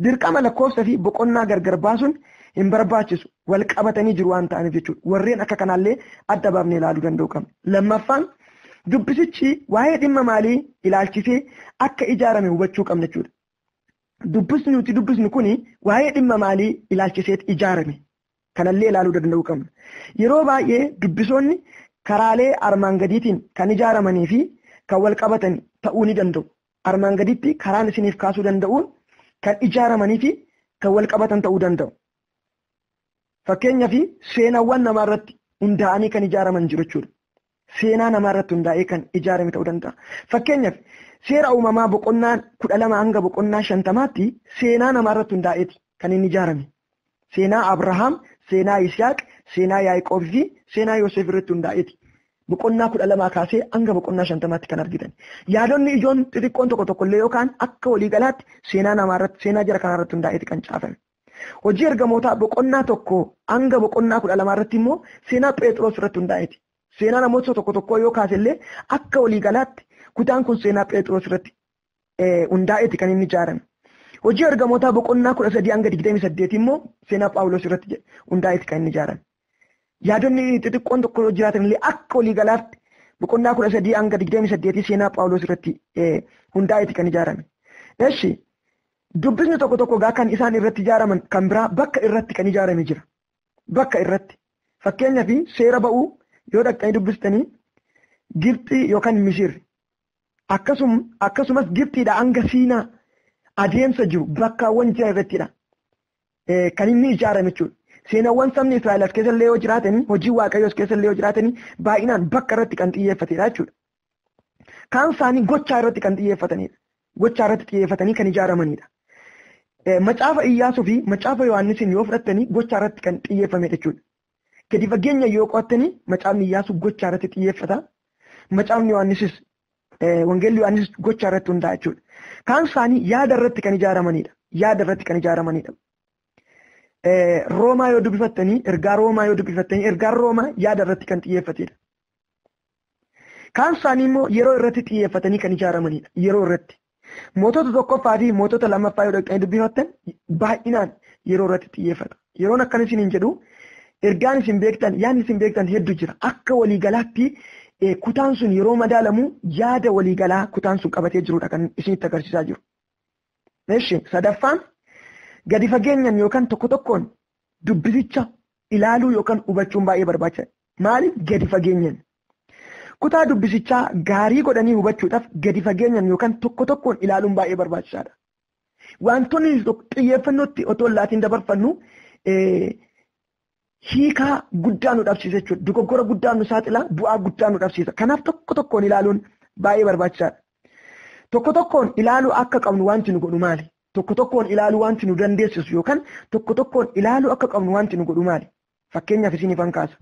Dirqama lakkoofsa fi boqonnaa gargar baasuun hin barbaachisu. wal qabatanii jiru waan ta'aniif jechuudha. Warreen akka kanaallee adda baafnee ilaaluu danda'u qabna. Lammaffaan dubbisichi waa'ee dhimma maalii ilaalchisee akka ijaarame hubachuu qabna jechuudha. Dubbisni nuti dubbisnu kun waa'ee dhimma maalii ilaalchiseet ijaarame kanallee ilaaluu danda'uu qabna. Yeroo baay'ee dubbisoonni karaalee armaan gadiitiin kan ijaaramanii fi kan wal qabatan ta'uu ni danda'u. Armaan gaditti karaan isiniif kaasuu danda'uun kan ijaaramanii fi kan wal qabatan ta'uu danda'u. Fakkeenya fi seenaawwan namaa irratti hundaa'anii kan ijaaraman jiru jechuudha. Seenaa namaa irratti hundaa'ee kan ijaarame ta'uu danda'a. Fakkeenyaaf seera uumamaa boqonnaa kudha lama hanga boqonnaa shantamaatti seenaa namaa irratti hundaa'eeti kan inni ijaarame. Seenaa Abrahaam, seenaa Yisihaaq, seenaa Yaaqoob fi seenaa Yoosef irratti hundaa'eeti. Boqonnaa kudha lamaa kaasee hanga boqonnaa shantamaatti kan argitan. Yaadonni ijoon xixiqqoon tokko tokko illee yookaan akka waliigalaatti seenaa namaa irratti seenaa jara kanaa irratti hundaa'eeti kan caafame. Hojii ergamootaa boqonnaa tokko hanga boqonnaa kudha lamaa irratti immoo seenaa Pheexroos irratti hundaa'eeti. Seenaa namoota tokko tokkoo yoo kaase illee akka waliigalaatti kutaan kun seenaa Pheexroos irratti hundaa'eeti kan inni ijaarame. Hojii ergamootaa boqonnaa kudha sadii hanga digdamii saddeet immoo seenaa Phaawulos irratti hundaa'eeti kan inni ijaarame. Yaadonni xixiqqoon tokko jiraatan illee akka waliigalaatti boqonnaa kudha sadii hanga digdamii saddeetii seenaa Phaawulos irratti hundaa'eeti kan ijaarame. Eshi Dubbisni tokko tokko egaa kan isaan irratti ijaaraman kan biraa bakka irratti kan ijaarame jira. Bakka irratti. Fakkeenyaaf seera ba'uu yoo dhaqxanii dubbistanii Gibxii yookaan Misir akkasum, akkasumas Gibxiidha hanga Siinaa adeemsa jiru bakkaawwan jiran irrattidha. Eh, kan inni ijaarame jechuudha. Seenaawwan sabni Israa'el as keessa illee yoo jiraatanii, hojii Waaqayyoo as keessa illee yoo jiraatanii baay'inaan bakka irratti kan xiyyeeffatedha jechuudha. Kaan isaanii gochaa irratti kan xiyyeeffatanidha. Gochaa irratti xiyyeeffatanii kan ijaaramanidha. Macaafa Iyyaasuu fi Macaafa Yohaannisiin yoo fudhattanii gochaa irratti kan xiyyeeffame jechuudha. Gadi fageenya yoo qo'attanii Macaafni Iyyaasuu gochaa irratti xiyyeeffata. Macaafni Yohaannisis Wangeelli Yohaannis gochaa irratti hundaa'a jechuudha. Kaan isaanii yaada irratti kan ijaaramanidha. Yaada irratti kan ijaaramanidha. Roomaa yoo dubbifattanii ergaa Roomaa yoo dubbifattanii ergaan Roomaa yaada irratti kan xiyyeeffatedha. Kaan isaanii immoo yeroo irratti xiyyeeffatanii kan ijaaramanidha. Yeroo irratti. Mootota tokkoffaa fi mootota lammaffaa yoo dhaqxanii dubbifattan baay'inaan yeroo irratti xiyyeeffata. Yeroon akkana isin hin jedhu ergaan isin beektan yaadni isin beektan heddu jira. Akka waliigalaatti kutaan sun yeroo madaalamu yaada waliigalaa kutaan sun qabatee jirudha kan isinitti agarsiisaa jiru. Eshi sadaffaan gadi fageenyan yookaan tokko tokkoon dubbisicha ilaaluu yookaan hubachuun baay'ee barbaachisaadha. Maaliif gadi fageenyan? Kutaa dubbisichaa gaarii godhanii hubachuudhaaf gadi fageenyan yookaan tokko tokkoon ilaaluun baay'ee barbaachisaadha. Wantoonni xiyyeeffannootti otoo laatiin dabarfannu hiikaa guddaa nu dhabsiisa jechuudha. Dogoggora guddaa nu saaxila, bu'aa guddaa nu dhabsiisa. Kanaaf tokko tokkoon ilaaluun baay'ee barbaachisaadha. Tokko tokkoon ilaaluu akka qabnu wanti nu godhu maali? Tokko tokkoon ilaaluu wanti nu dandeessisu yookaan tokko tokkoon ilaaluu akka qabnu wanti nu godhu maali? Fakkeenyaaf isinifan kaasa.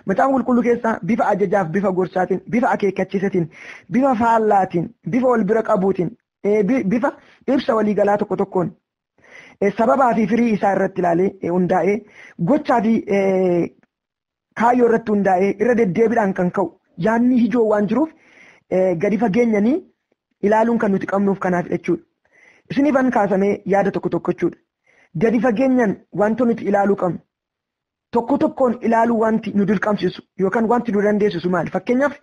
Macaafa qulqulluu keessaa bifa ajajaaf bifa gorsaatiin, bifa akeekkachiisatiin, bifa faallaatiin, bifa wal bira qabuutiin, eh, bi- bifa ibsa waliigalaa tokko tokkoon eh, sababaa fi firii isaa irratti ilaalee eh, hundaa'ee gochaa fi eh, kaayyoo irratti hundaa'ee irra deddeebiidhaan kan ka'u yaadni ijoo waan jiruuf eh, gadi fageenyanii ilaaluun kan nuti qabnuuf kanaaf jechuudha. Isinifan kaasamee yaada tokko tokko jechuudha. gadi fageenyaan wanta nuti ilaaluu qabnu tokko tokkoon ilaaluu wanti nu dirqamsiisu yookaan wanti nu dandeessisu maali? Fakkeenyaaf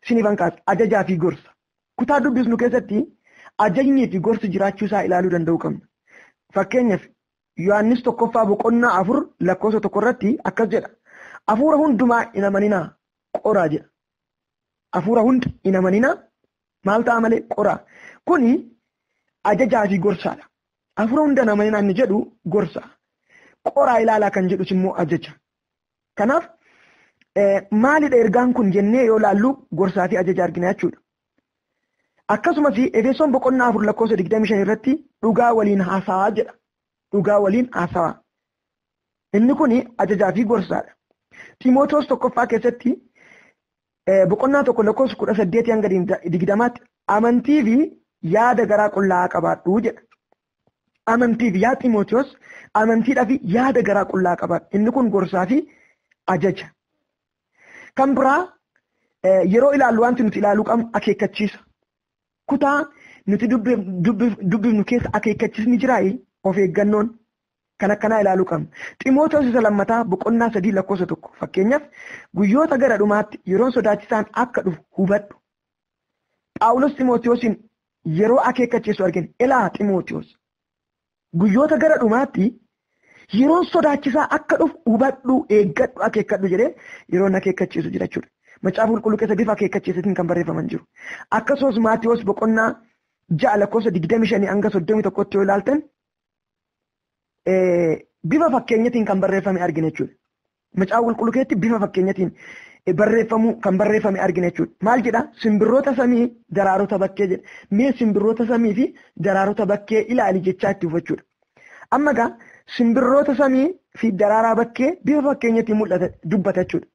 isiniif hanqaas ajajaa fi gorsa. Kutaa dubbisnu keessatti ajajnii fi gorsi jiraachuu isaa ilaaluu danda'uu qabna. Fakkeenyaaf Yohaannis tokkoffaa boqonnaa afur lakkoofsa tokko irratti akkas jedha. Hafuura hundumaa hin amaninaa qoraa jedha. Hafuura hunda hin amaninaa Maal ta'a malee qoraa. Kuni ajajaa fi gorsaadha. Afura hunda nama hin anni jedhu gorsa. Qoraa ilaalaa kan jedhus immoo ajaja. Kanaaf maalidha ergaan kun jennee yoo laallu gorsaa fi ajaja argina jechuudha. Akkasumas Efesoon boqonnaa afur lakkoofsa 25 irratti dhugaa waliin haasawaa jedha. Dhugaa waliin haasawaa. Inni kun ajajaa fi gorsaadha. Ximootoos tokkoffaa keessatti boqonnaa tokko lakkoofsa kudha saddeetii hanga digdamaatti amantii fi yaada garaa qullaa'aa qabaadhu jedha. Amantii fi yaa Ximootiyoos amantiidhaa fi yaada garaa qullaa'aa qabaadhu. Inni kun gorsaa fi ajaja. Kan biraa yeroo ilaallu wanti nuti ilaaluu qabnu akeekkachiisa. Kutaa nuti dubbifnu keessa akeekkachiisni jiraayi of eeggannoon kan akkanaa ilaaluu qabna. Ximootoos isa lammataa boqonnaa sadii lakkoofsa tokko fakkeenyaaf guyyoota gara dhumaatti yeroon sodaachisaan akka dhufu hubadhu. Phaawulos Ximootiyoosiin yeroo akeekkachiisu argina. Ilaa Ximootiyoos guyyoota gara dhumaatti yeroon sodaachisaa akka dhufu hubadhu, eeggadhu, akeekkadhu jedhee yeroon akeekkachiisu jira jechuudha. Macaafa qulqulluu keessa bifa akeekkachiisatiin kan barreeffaman jiru. Akkasumas Maatiyoos boqonnaa ja'a lakkoofsa digdamii shanii hanga soddomii tokkotti yoo ilaaltan bifa fakkeenyatiin kan barreeffame argina jechuudha. Macaafa qulqulluu keessatti bifa fakkeenyatiin barreeffamuu kan barreeffame argina jechuudha. Maal jedha? Simbirroota samii daraarota bakkee jedha. Mee simbirroota samii fi daraarota bakkee ilaali jechaa itti hubachuudha. Amma egaa simbirroota samii fi daraaraa bakkee bifa fakkeenyatiin mul'ata dubbata jechuudha.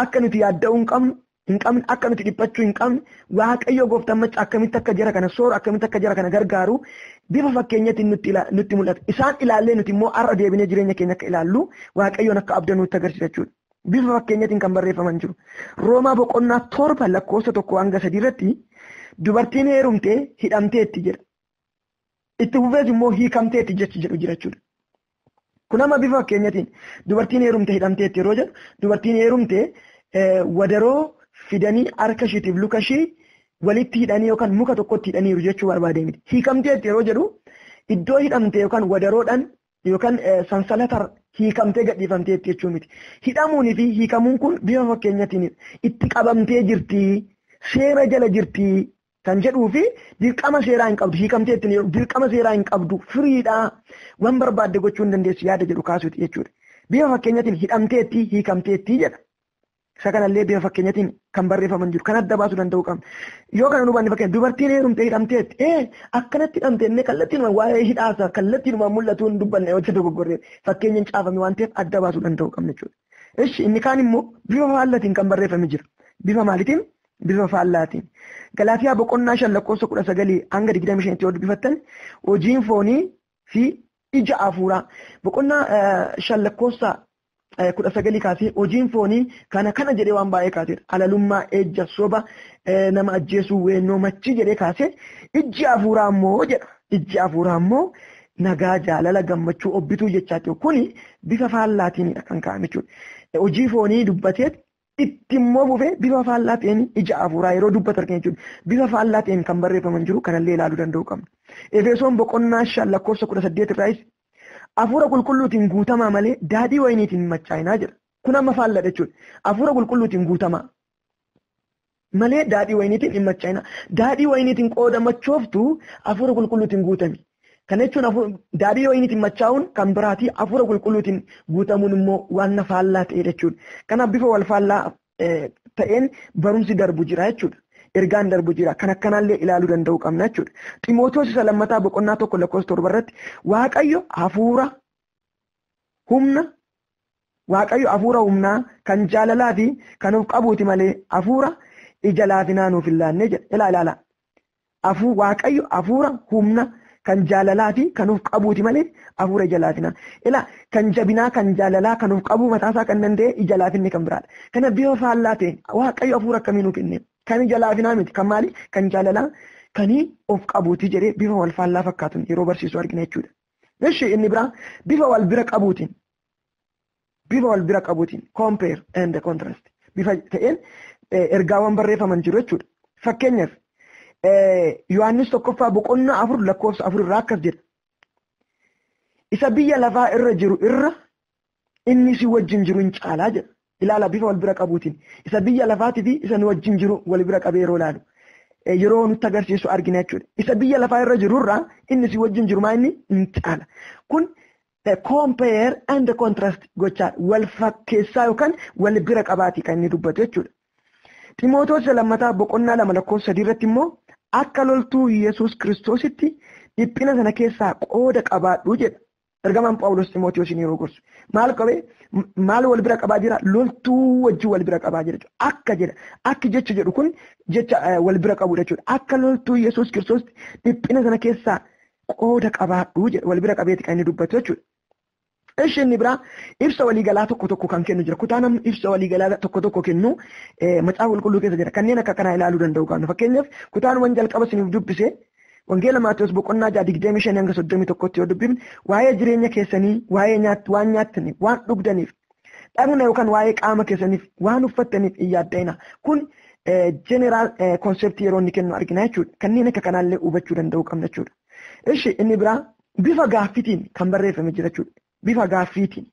akka nuti yaadda'uu hin qabnu hin qabne akka nuti dhiphachuu hin qabne waaqayyo gooftaan macca akkamitti akka jara kana sooru akkamitti akka jara kana gargaaru bifa fakkeenyatiin nutti ila- nutti mul'ata isaan ilaallee nuti immoo har'a deebinee jireenya keenya akka ilaallu waaqayyoon akka abdannu nutti agarsiisa jechuudha. Bifa fakkeenyatiin kan barreeffaman jiru. Roomaa boqonnaa torba lakkoofsa tokko hanga sadii irratti dubartiin heerumtee hidhamteetti jedha. Itti fufees immoo hiikamteetti jechi jedhu jirachuudha. Kun amma bifa fakkeenyatiin dubartiin heerumte hidhamteetti yeroo jedhu dubartiin heerumte wadaroo fidanii harka ishiitiif luka ishii walitti hidhanii yookaan muka tokkotti hidhaniiru jechuu barbaadee miti. Hiikamteetti yeroo jedhu iddoo hidhamte yookaan wadaroodhaan yookaan sansalataan hiikamtee gadhiifamteetti jechuu miti. Hidhamuunii fi hiikamuun kun bifa fakkeenyatiin itti qabamtee jirti, seera jala jirti kan jedhuu fi dirqama seeraa hin qabdu hiikamteetti ni dirqama seeraa hin qabdu firiidhaa waan barbaadde gochuu hin dandeessu yaada jedhu kaasuuti jechuudha. Bifa fakkeenyatiin hidhamteetti hiikamteetti jedha. Isa kanallee bifa fakkeenyatiin kan barreeffaman jiru kan adda baasuu danda'u qabna. Yoo kana hubanne fakkeenya dubartiin heerumte hidhamteetti ee akkanatti hidhamte inni kallattiin waa'ee hidhaasa kallattiin waan mul'atu hin dubbanne hojii dogoggorree fakkeenyaan caafame waan ta'eef adda baasuu danda'u qabna jechuudha. Eshi inni kaan immoo bifa faallatiin kan barreeffame jira. Bifa maalitiin? Bifa faallaatiin. Galaatiyaa boqonnaa shan lakkoofsa kudha sagalii hanga digdamii shanitti yoo dubbifattan hojiin foonii fi ija hafuuraa boqonnaa shan lakkoofsa kudha sagalii kaasee hojiin foonii kana kana jedhee waan baay'ee kaaseedha. Alalummaa, ejja, soba, nama ajjeesuu, weennoo, machii jedhee kaasee ijji hafuuraa immoo jedha. Ijji hafuuraa immoo Nagaa, jaalala, gammachuu, obbituu jechaa ta'u kuni bifa faallaatiinidha kan kaa'ame jechuudha. Hojii foonii dubbatee itti immoo fufee bifa faallaa ta'een ija hafuuraa yeroo dubbatu argina jechuudha. Bifa faallaa ta'een kan barreeffaman jiru kanallee ilaaluu danda'uu qabna. Efesoon boqonnaa shan lakkoofsa kudha saddeet irraayis hafuura qulqulluutiin guutamaa malee daadhii wayiniitiin hin machaa'inaa jedha. Kun amma faalladha jechuudha. Hafuura qulqulluutiin guutamaa. malee daadhii wayiniitiin hin machaa'ina. Daadhii wayiniitiin qooda machooftu hafuura qulqulluutiin guutami. Kana jechuun daadhii wayiniitiin machaa'uun kan biraati hafuura qulqulluutiin guutamuun immoo waan na faallaa ta'e jechuudha. Kanaaf bifa wal faallaa ta'een barumsi darbu jira jechuudha. Ergaan darbu jira. Kan akkanaallee ilaaluu danda'uu qabna jechuudha. Ximootoos isa lammataa boqonnaa tokko lakkoofsa torba irratti Waaqayyo hafuura humna Waaqayyo hafuura humnaa, kan jaalalaa fi kan of qabuuti malee hafuura ija laafinaa nuuf hin laanne jedha. Ilaa ilaala. Afuu Waaqayyo hafuura humna kan jaalalaa fi kan of qabuuti malee hafuura ija laafinaa. Ilaa kan jabinaa kan jaalalaa kan of qabuu mataasaa kan danda'e ija laafinni kan biraadha. Kana bifa faallaa ta'een Waaqayyo hafuura akkamii nuuf kenne? Kan ija laafinaa miti kan maali? Kan jaalalaa kan of qabuuti jedhee bifa wal faallaa fakkaatuun yeroo barsiisu argina jechuudha. Ishi inni biraa bifa wal bira qabuutiin bifa wal bira qabuutiin compare and contrast bifa ta'een ergaawwan barreeffaman jiru jechuudha. Fakkeenyaaf Yohaannis tokkoffaa boqonnaa afur lakkoofsa afur irraa akkas jedha. Isa biyya lafaa irra jiru irra inni isin wajjin jiru hin caalaa jedha. Ilaala bifa wal bira qabuutiin isa biyya lafaatii fi isa nu wajjin jiru wal bira qabee yeroo ilaalu yeroo nutti agarsiisu argina jechuudha. Isa biyya lafaa irra jiru irraa inni isin wajjin jiru maa inni hin caala. Kun compare and contrast gochaa wal fakkeessaa yookaan wal bira qabaatii kan inni dubbatu jechuudha. Ximootoos lammataa boqonnaa lama lakkoofsa sadii irratti immoo akka loltuu Yesuus Kiristoositti dhiphina sana keessaa qooda qabaadhu jedha. Ergamaan Phaawulos Ximootiyoosiin yeroo gorsu maal qabee maal wal bira qabaa jira loltuu wajjin wal bira qabaa jira jechuudha. Akka jedha akki jecha jedhu kun jecha wal bira qabudha jechuudha. Akka loltuu Yesuus Kiristoos dhiphina sana keessaa qooda qabaadhu jedha wal bira qabeeti kan inni dubbatu jechuudha. Ishi inni biraa ibsa waliigalaa tokko tokko kan kennu jira. Kutaa namni ibsa waliigalaa tokko tokko kennu macaafa qulqulluu keessa jira. Kanneen akka kanaa ilaaluu danda'u qabna. Fakkeenyaaf kutaawwan jalqaba isiniif dubbise Wangeela Maatewos boqonnaa 6 25 hanga 31tti yoo dubbifne waa'ee jireenya keessanii, waa'ee nyaat, waan nyaattaniif, waan dhugdaniif, dhagna yookaan waa'ee qaama keessaniif, waan uffattaniif hin yaadda'ina. Kun jeneraal konseptii yeroo inni kennu argina jechuudha. Kanneen akka kanaallee hubachuu danda'uu qabna jechuudha. Ishi inni biraa bifa gaaffitiin kan barreeffame jira jechuudha. Bifa gaaffiitiin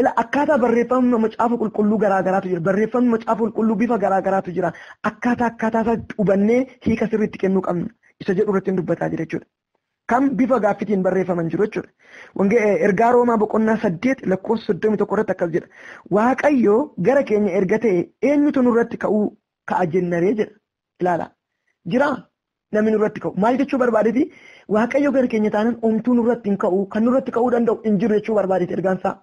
Ila akkaataa barreeffamni macaafa qulqulluu garaa garaatu jira. Barreeffamni macaafa qulqulluu bifa garaa garaatu jira. Akkaataa akkaataa isaa hubannee hiika sirriitti kennuu qabna. Isa jedhu irratti hin dubbataa jira jechuudha. Kan bifa gaaffitiin barreeffaman jiru jechuudha. Wangee ergaa Roomaa boqonnaa saddeet lakkoofsa soddomii tokko irratti akkas jedha. Waaqayyo gara keenya erga ta'e eenyutu nurratti ka'uu ka'a jennaree jedha. ilaalaa jiraa namni nurratti ka'u maal jechuu barbaadeti waaqayyo gara keenya taanan omtuu nurratti hin ka'u kan nurratti ka'uu danda'u hin jiru jechuu barbaadeti ergaansaa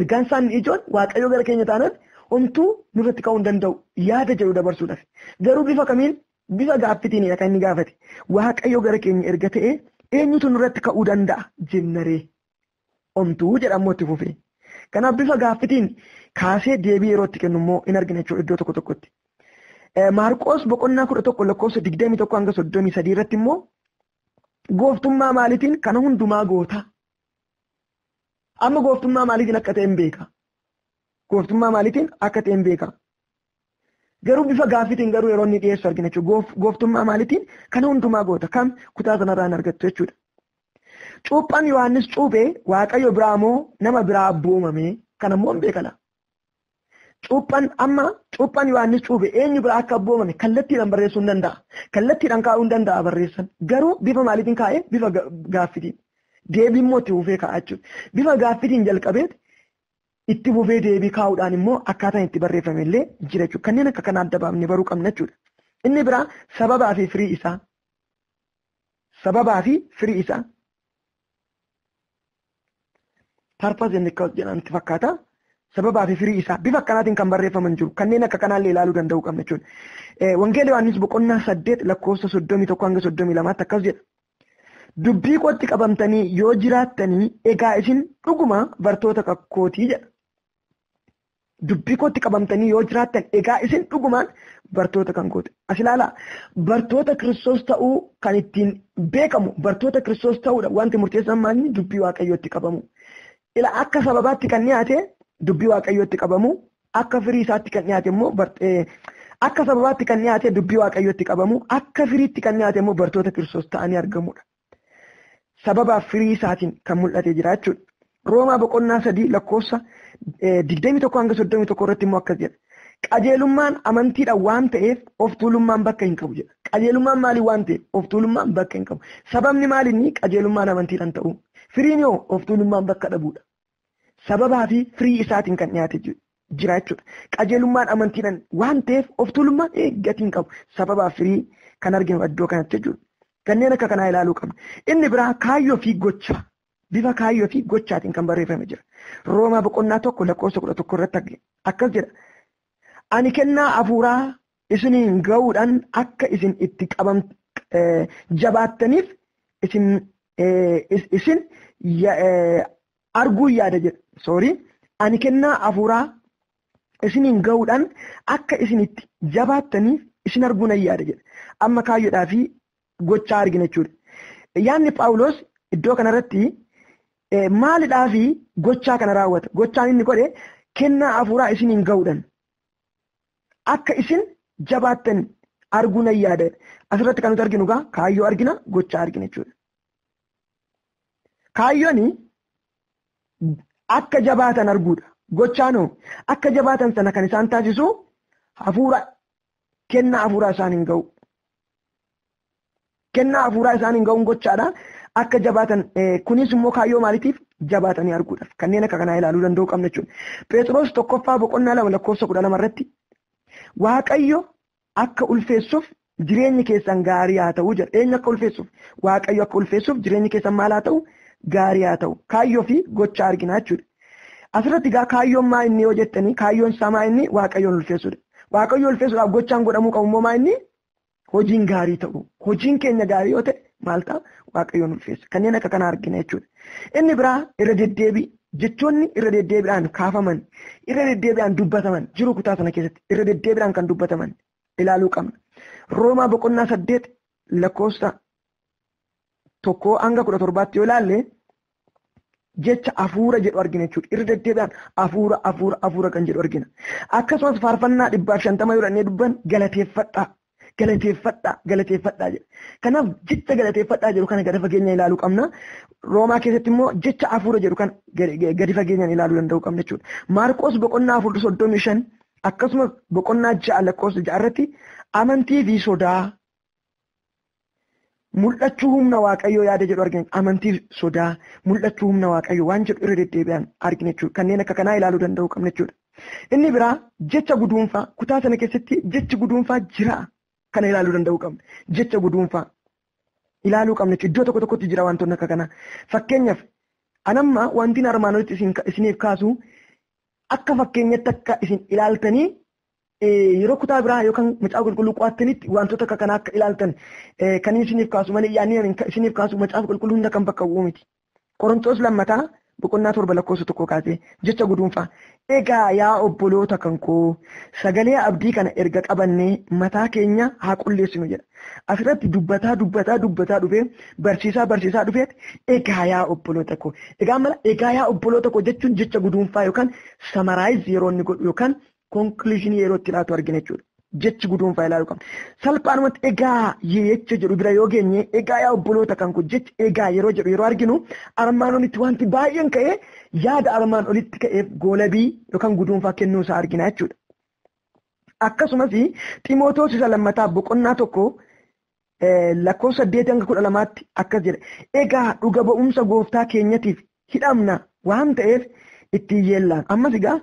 ergaansaan inni ijoon waaqayyo gara keenya taanan omtuu nurratti ka'uu hin danda'u yaada jedhu dabarsuudhaaf garuu bifa kamiin bifa gaaffitiinidha kan inni gaafate waaqayyo gara keenya erga ta'e eenyutu nurratti ka'uu danda'a jennaree omtuu jedha ammoo itti fufee. Kanaaf bifa gaaffitiin kaasee deebii yeroo itti kennu immoo in argina jechuudha iddoo tokko tokkotti. Maarqoos boqonnaa kudha tokko lakkoofsa digdamii tokko hanga soddomii sadii irratti immoo gooftummaa maaliitiin kana hundumaa goota. Amma gooftummaa maaliitiin akka ta'e hin beeka. Gooftummaa maaliitiin akka ta'e hin beeka. Garuu bifa gaaffiitiin garuu yeroo inni dhiyeessu argina jechuudha. Gooftummaa maalitiin kana hundumaa goota kam kutaa sanarraa hin argattu jechuudha. Cuuphaan Yohaannis cuuphe Waaqayyo biraa moo nama biraa abbuu uumame kana immoo hin beekala. Cuuphaan amma cuuphaan Yohaannis cuuphe eenyu biraa akka abbuu uumame kallattiidhaan barreessuu hin danda'a. Kallattiidhaan kaa'uu hin danda'a barreessan. Garuu bifa maalitiin kaa'ee bifa gaaffiitiin. Deebii immoo itti fufee kaa'a jechuudha. Bifa gaaffiitiin jalqabeeti itti fufee deebii kaa'uudhaan immoo akkaataan itti barreeffame illee jira jechuudha. Kanneen akka kanaa adda baafnee baruu qabna jechuudha. Inni biraa sababaa fi firii isaa. Sababaa fi firii isaa. Purpose and cause jedhamti fakkaata. Sababaa fi firii isaa bifa akkanaatiin kan barreeffaman jiru. Kanneen akka kanaa illee ilaaluu danda'uu qabna jechuudha. Wangeela Yohaannis boqonnaa saddeet lakkoofsa soddomii tokko hanga soddomii lamaatti akkas jedha. Dubbii kootti qabamtanii yoo jiraattanii egaa isin dhuguma bartoota kakootii jedha. Dubbii kootti qabamtanii yoo jiraattan egaa isin dhugumaan bartoota kan kooti. As ilaalaa bartoota kiristoos ta'uu kan ittiin beekamu bartoota kiristoos ta'uudha wanti murteessan maalni dubbii waaqayyootti qabamu. Ila akka sababaatti kan dhiyaate dubbii waaqayyootti qabamu Akka firii isaatti kan dhiyaate immoo akka sababaatti kan dhiyaate dubbii waaqayyootti qabamu akka firiitti kan dhiyaate immoo bartoota kiristoos ta'anii argamudha. Sababaaf firii isaatiin kan mul'ate jira jechuudha. Roomaa boqonnaa sadii lakkoofsa digdamii tokko hanga soddomii tokko irratti immoo akkas jedha. Qajeelummaan amantiidhaan waan ta'eef of tuulummaan bakka hin qabu jedha. Qajeelummaan maaliin waan ta'eef of tuulummaan bakka hin qabu. Sababni maaliin qajeelummaan amantiidhaan ta'uu? Firiin yoo of tuulummaan bakka dhabuudha. sababaa fi firii isaatiin kan dhiyaate jira jechuudha. Qajeelummaan amantiidhaan waan ta'eef of tuulummaan gatiin qabu sababaa firii kan arginu iddoo kanatti jechuudha. Kanneen akka kanaa ilaaluu qabna. Inni biraa kaayyoo fi gocha bifa kaayyoo fi gochaatiin kan barreeffame jira. Roomaa boqonnaa tokko lakkoofsa kudha tokko irratti akkas jedha. Ani kennaa hafuuraa isiniin ga'uudhaan akka isin itti qabam jabaattaniif isin isin arguu yaada jedha soorii ani kennaa hafuuraa isiniin ga'uudhaan akka isin itti jabaattaniif isin arguu nan yaada jedha amma kaayyoodhaa fi gochaa argina jechuudha yaanni paawuloos iddoo kanarratti maalidhaa fi gochaa kana raawwata gochaan inni godhe kennaa hafuuraa isiniin ga'uudhaan akka isin jabaattan arguu nan yaada. Asirratti kan nuti arginu egaa kaayyoo argina gochaa argina jechuudha. Kaayyoon akka jabaatan arguudha. Gochaan hoo akka jabaatan sana kan isaan taasisu hafuura kennaa hafuuraa isaaniin ga'u. Kennaa hafuuraa isaaniin ga'uun gochaadha. Akka jabaatan kunis immoo kaayyoo maaliitiif jabaatanii arguudhaaf kanneen akka kanaa ilaaluu danda'uu qabna jechuudha. Pheexiroos tokkoffaa boqonnaa lama lakkoofsa kudha lama irratti Waaqayyo akka ulfeessuuf jireenyi keessan gaarii haa ta'u jedha. Eenyu akka ulfeessuuf? Waaqayyo akka ulfeessuuf jireenyi keessan maal haa ta'u? Gaarii haa ta'u. Kaayyoo fi gocha argina jechuudha. Asirratti egaa kaayyoon maa inni yoo jettanii kaayyoon isaa maa inni Waaqayyoon ulfeessuudha. Waaqayyo ulfeessuudhaaf gochaan godhamuu qabu immoo maa inni hojiin gaarii ta'u hojiin keenya gaarii yoo ta'e maal ta'a waaqayyoon ulfeessa kanneen akka kanaa argina jechuudha. Inni biraa irra deddeebii jechoonni irra deddeebiidhaan kaafaman irra deddeebiidhaan dubbataman jiru kutaa sana keessatti irra deddeebiidhaan kan dubbataman ilaaluu qabna. Roomaa boqonnaa saddeet lakkoofsa tokkoo hanga kudha torbaatti yoo ilaalle jecha afuura jedhu argina jechuudha. Irra deddeebi'aan afuura afuura afuura kan jedhu argina. Akkasumas faarfannaa dhibbaaf shantama yoo dhannee dubban galateeffadhaa galateeffadhaa galateeffadhaa jedha. Kanaaf jecha galateeffadhaa jedhu kana gadi fageenya ilaaluu qabna. Roomaa keessatti immoo jecha afuura jedhu kan gadi fageenyaan ilaaluu danda'uu qabna jechuudha. Maarqoos boqonnaa afur soddomii shan akkasumas boqonnaa ja'a lakkoofsa ja'a irratti amantii fi sodaa Mul'achuu humna Waaqayyoo yaada jedhu argina. Amantii sodaa, mul'achuu humna Waaqayyoo waan jedhu irra deddeebi'an argina jechuudha. Kanneen akka kanaa ilaaluu danda'uu qabna jechuudha. Inni biraa jecha guduunfaa kutaa sana keessatti jechi guduunfaa jira kana ilaaluu danda'uu qabna. Jecha guduunfaa ilaaluu qabna jechuudha. Iddoo tokko tokkotti jira wantoonni akka kanaa. Fakkeenyaaf anamma wantiin armaan olitti isiniif kaasu akka fakkeenyatti akka isin ilaaltanii yeroo kutaa biraa yookaan macaafa qulqulluu qo'attanitti wantoota akka kanaa akka ilaaltan kan inni isiniif kaasu malee yaadni ani isiniif kaasu macaafa qulqulluu hunda kan bakka bu'u miti. Qorontoos lammataa boqonnaa torba lakkoofsa tokko kaasee jecha guduunfaa. Egaa yaa obboloota kan koo sagalee abdii kana erga qabannee mataa keenya haa qulleessinu jedha. Asirratti dubbataa dubbataa dubbataa dhufee barsiisaa barsiisaa dhufeet egaa yaa obboloota koo. Egaa mala egaa yaa obboloota koo jechuun jecha guduunfaa yookaan samaraayiz yeroo inni godhu yookaan konkluushinii yeroo itti laatu argina jechuudha. Jechi guduunfaa ilaaluu qabna. Salphaanumatti egaa jecha jedhu bira yoo geenye egaa yaa obboloota kan kun jecha egaa yeroo jedhu yeroo arginu armaan olitti wanti baay'een ka'ee yaada armaan olitti ka'eef goolabii yookaan guduunfaa kennuu isaa argina jechuudha. Akkasumas Ximootoos isa lammataa boqonnaa tokko lakkoofsa 8-12tti akkas jedha. Egaa dhuga ba'umsa gooftaa keenyatiif hidhamna waan ta'eef ittiin yeellaan. Ammas egaa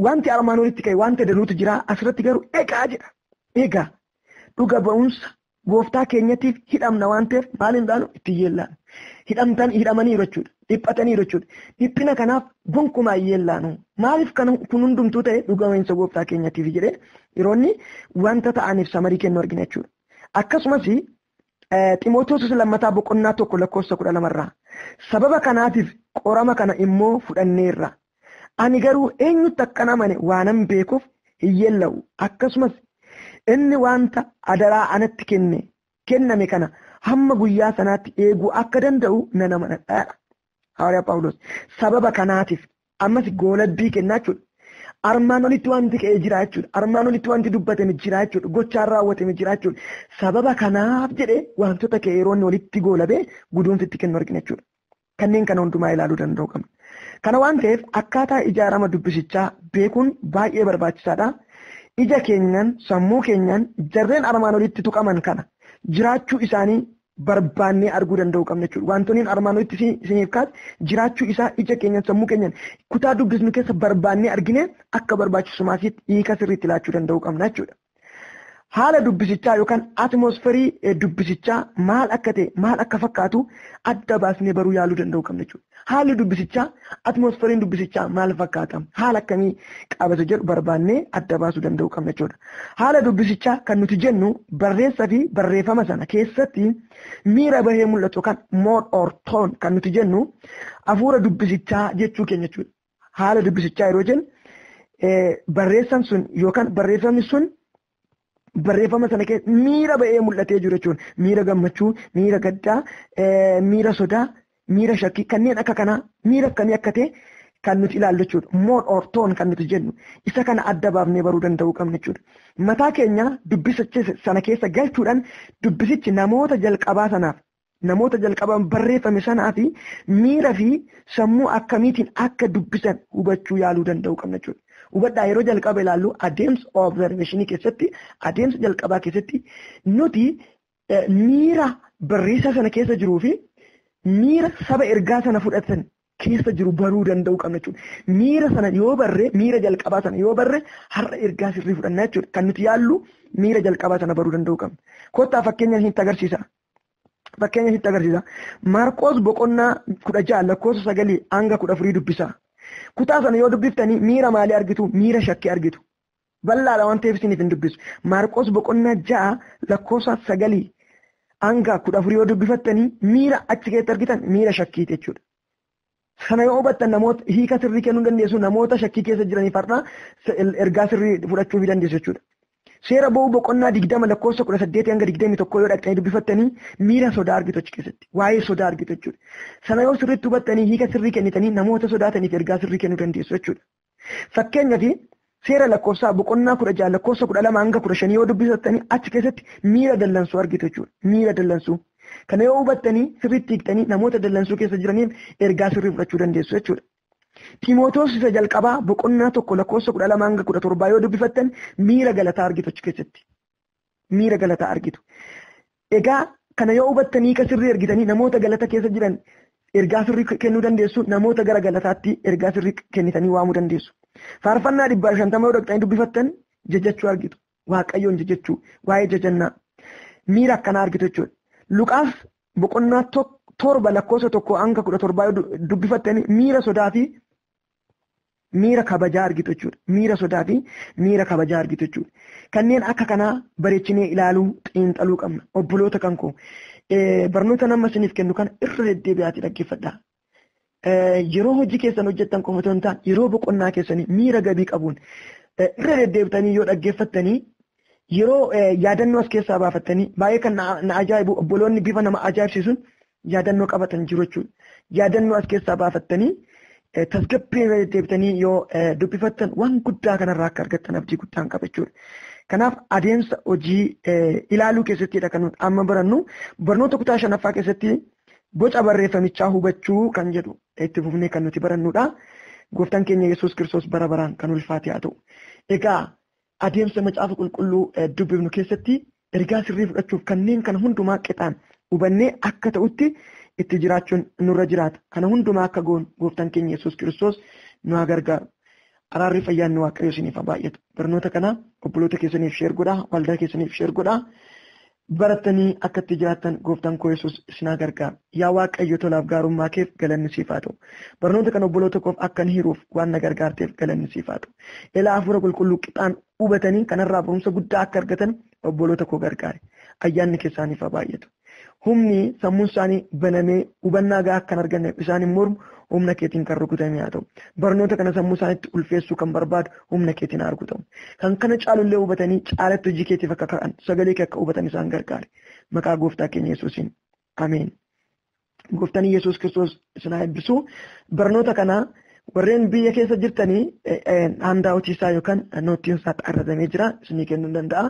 wanti armaan olitti ka'e wanta danuutu jira asirratti garuu egaa jedha. Egaa dhuga ba'umsa gooftaa keenyatiif hidhamna waan ta'eef maaliin dhaanu ittiin yeellaan. Hidhamtan hidhamaniiru jechuudha. Dhiphataniiru jechuudha. Dhiphina kanaaf gonkumaa hin yeellaanu. Maaliif kan kun hundumtuu ta'e dhuga ba'umsa gooftaa keenyatiif jedhee yeroonni wanta ta'aniif samarii kennu argina jechuudha. Akkasumas Ximootoos lammataa boqonnaa tokko lakkoofsa kudha lamarraa sababa kanaatiif qorama kana immoo fudhanneerra. Ani garuu eenyutti akkan amane waanan beekuuf hin yeella'u. Akkasumas inni wanta adaraa anatti kenne kenname kana hamma guyyaa sanaatti eeguu akka danda'u nan amanadha. Hawaariyaa Phaawulos sababa kanaatiif ammas goolabbii kennaa jechuudha. Armaan olitti wanti ka'ee jira jechuudha. Armaan olitti wanti dubbatame jira jechuudha. Gochaan raawwatame jira jechuudha. Sababa kanaaf jedhee wantoota ka'e yeroo inni walitti goolabee guduunfi itti kennu argina jechuudha. Kanneen kana hundumaa ilaaluu danda'u qabna. Kana waan ta'eef akkaataa ijaarama dubbisichaa beekuun baay'ee barbaachisaadha. Ija keenyaan, sammuu keenyaan jarreen armaan olitti tuqaman kana jiraachuu isaanii barbaannee arguu danda'uu qabna jechuudha. Wantoonni armaan olitti isiniif kaase jiraachuu isaa ija keenyan sammuu keenyan kutaa dubbisnu keessa barbaannee argine akka barbaachisumaasiitti hiika sirriitti laachuu danda'uu qabna jechuudha. Haala dubbisichaa yookaan atmosferii dubbisichaa maal akka ta'e maal akka fakkaatu adda baasnee baruu yaaluu danda'uu qabna jechuudha. Haalli dubbisichaa, atmoosferiin dubbisichaa maal fakkaata? Haala akkamii qaba isa jedhu barbaannee adda baasuu danda'uu qabna jechuudha. Haala dubbisichaa kan nuti jennu barreessa fi barreeffama sana keessatti miira bahee mul'atu yookaan mood or tone kan nuti jennu hafuura dubbisichaa jechuu keenya jechuudha. haala dubbisichaa yeroo jennu barreessan sun yookaan barreeffamni sun barreeffama sana keessa miira ba'ee mul'atee jiru jechuun miira gammachuu, miira gaddaa, miira sodaa, miira shakkii kanneen akka kanaa miira akkamii akka ta'e kan nuti ilaallu jechuudha. Mood or toon kan nuti jennu isa kana adda baafnee baruu danda'uu qabna jechuudha. Mataa keenya dubbisicha sana keessa galchuudhaan dubbisichi namoota jalqabaa sanaaf namoota jalqabaan barreeffame sanaa fi miira fi sammuu akkamiitiin akka dubbisan hubachuu yaaluu danda'uu qabna jechuudha. Hubadhaa yeroo jalqaba ilaallu adeemsa observeeshinii keessatti adeemsa jalqabaa keessatti nuti miira barreessaa sana keessa jiruu fi miira saba ergaa sana fudhatan keessa jiru baruu danda'uu qabna jechuudha. Miira sana yoo barre miira jalqabaa sana yoo barre har'a ergaa sirrii fudhanna jechuudha. Kan nuti yaallu miira jalqabaa sana baruu danda'uu qabna. Kottaa fakkeenyaan hin agarsiisa. Fakkeenya sitti agarsiisa. Maarqoos boqonnaa kudha ja'a lakkoofsa sagalii hanga kudha afurii dubbisa. Kutaa sana yoo dubbiftanii miira maalii argitu? Miira shakkii argitu. Bal'aadha waan ta'eef isiniif hin dubbisu. Maarqoos boqonnaa ja'a lakkoofsa sagalii hanga kudha afurii yoo dubbifattanii miira achi keessatti argitan miira shakkiiti jechuudha. Kana yoo hubattan namoota hiika sirrii kennuu dandeessu namoota shakkii keessa jiraniif har'a ergaa sirrii fudhachuu dandeessu jechuudha. Seera ba'uu boqonnaa digdama lakkoofsa kudha saddeetii hanga digdamii tokkoo yoo dhaqxanii dubbifattanii miira sodaa argitu achi keessatti. Waa'ee sodaa argitu jechuudha. Sana yoo sirriitti hubattanii hiika sirrii kennitanii namoota sodaataniif ergaa sirrii kennuu dandeessu jechuudha. Fakkeenyaaf seera lakkoofsaa boqonnaa kudha ja'a lakkoofsa kudha lama hanga kudha shanii yoo dubbisattanii achi keessatti miira dallansuu argitu jechuudha. Miira dallansuu. Kana yoo hubattanii sirriitti hiiktanii namoota dallansuu keessa jiraniif ergaa sirrii fudhachuu dandeessu jechuudha. Ximootoos isa jalqabaa boqonnaa tokko lakkoofsa kudha lama hanga kudha torbaa yoo dubbifattan miira galataa argitu achi keessatti. miira galataa argitu. Egaa kana yoo hubattanii ka sirrii ergitanii namoota galata keessa jiran ergaa sirrii kennuu dandeessu namoota gara galataatti ergaa sirrii kennitanii waamuu dandeessu. Faarfannaa dhibbaa fi shantama yoo dhaqxanii dubbifattan jajachuu argitu. Waaqayyoon jajachuu waa'ee jajannaa miira akkanaa argitu jechuudha. Luqaas boqonnaa torba lakkoofsa tokko hanga kudha torbaa yoo dubbifattan miira sodaa fi miira kabajaa argitu jechuudha. Miira sodaa fi miira kabajaa argitu jechuudha. Kanneen akka kanaa bareechinee ilaaluu xiinxaluu qabna. Obboloota kan koo barnoota nama isiniif kennu kana irra deddeebi'aatii dhaggeeffadhaa. Yeroo hojii keessan hojjettan qofa otoo hin taane yeroo boqonnaa keessanii miira gabii qabuun irra deddeebitanii yoo dhaggeeffattanii yeroo yaadannoo as keessaa baafattanii baay'ee kan na ajaa'ibu obboloonni bifa nama ajaa'ibsiisuun yaadannoo qabatan jiru jechuudha. Yaadannoo as keessaa baafattanii tasgabbii irra deddeebitanii yoo dubbifattan waan guddaa kanarraa akka argattan abdii guddaan qaba jechuudha. Kanaaf adeemsa hojii ilaaluu keessattidha kan nuti amma barannu barnoota kutaa shanaffaa keessatti boca barreeffamichaa hubachuu kan jedhu itti fufnee kan nuti barannudha. Gooftaan keenya Yesuus Kiristoos bara baraan kan ulfaate haa ta'u. Egaa Adeemsa Macaafa Qulqulluu dubbifnu keessatti ergaa sirrii fudhachuuf kanneen kana hundumaa qixaan hubannee akka ta'utti itti jiraachuun nurra jiraata. Kana hundumaa akka goonu gooftaan keenya Yesuus Kiristoos nu haa gargaaru. Araarri fayyaan nu waaqayyo isiniif haa baay'atu. Barnoota kana obboloota keessaniif sheer godhaa, waldaa keessaniif sheer godhaa. Barattanii akka itti jiraattan gooftaan koo Yesuus isin haa gargaaru. Yaa Waaqayyo tolaaf gaarummaa keef galanni siif haa ta'u. Barnoota kana obboloota koof akkan hiruuf waan na gargaarteef galanni siif haa ta'u. Elaa Hafuura Qulqulluu qixaan hubatanii kanarraa barumsa guddaa akka argatan obboloota koo gargaari. Ayyaanni kee isaaniif haa baay'atu. Humni sammuun isaanii banamee hubannaa gahaa akka hin arganneef isaan hin mormu, humna keetiin kan rukutame haa ta'u. Barnoota kana sammuu isaaniitti ulfeessuu kan barbaadu humna keetiin haa rukutamu. Kan kana caalu illee hubatanii caalatti hojii keetiif akka ka'an sagalee kee akka hubatan isaan gargaari. Maqaa gooftaa keenya Yesuusiin. Ameen. Gooftaan Yesuus Kiristoos isin haa eebbisu. Barnoota kana warreen biyya keessa jirtanii handaa hojiisaa yookaan noottiin isaa xarratamee jira isinii kennuu danda'a.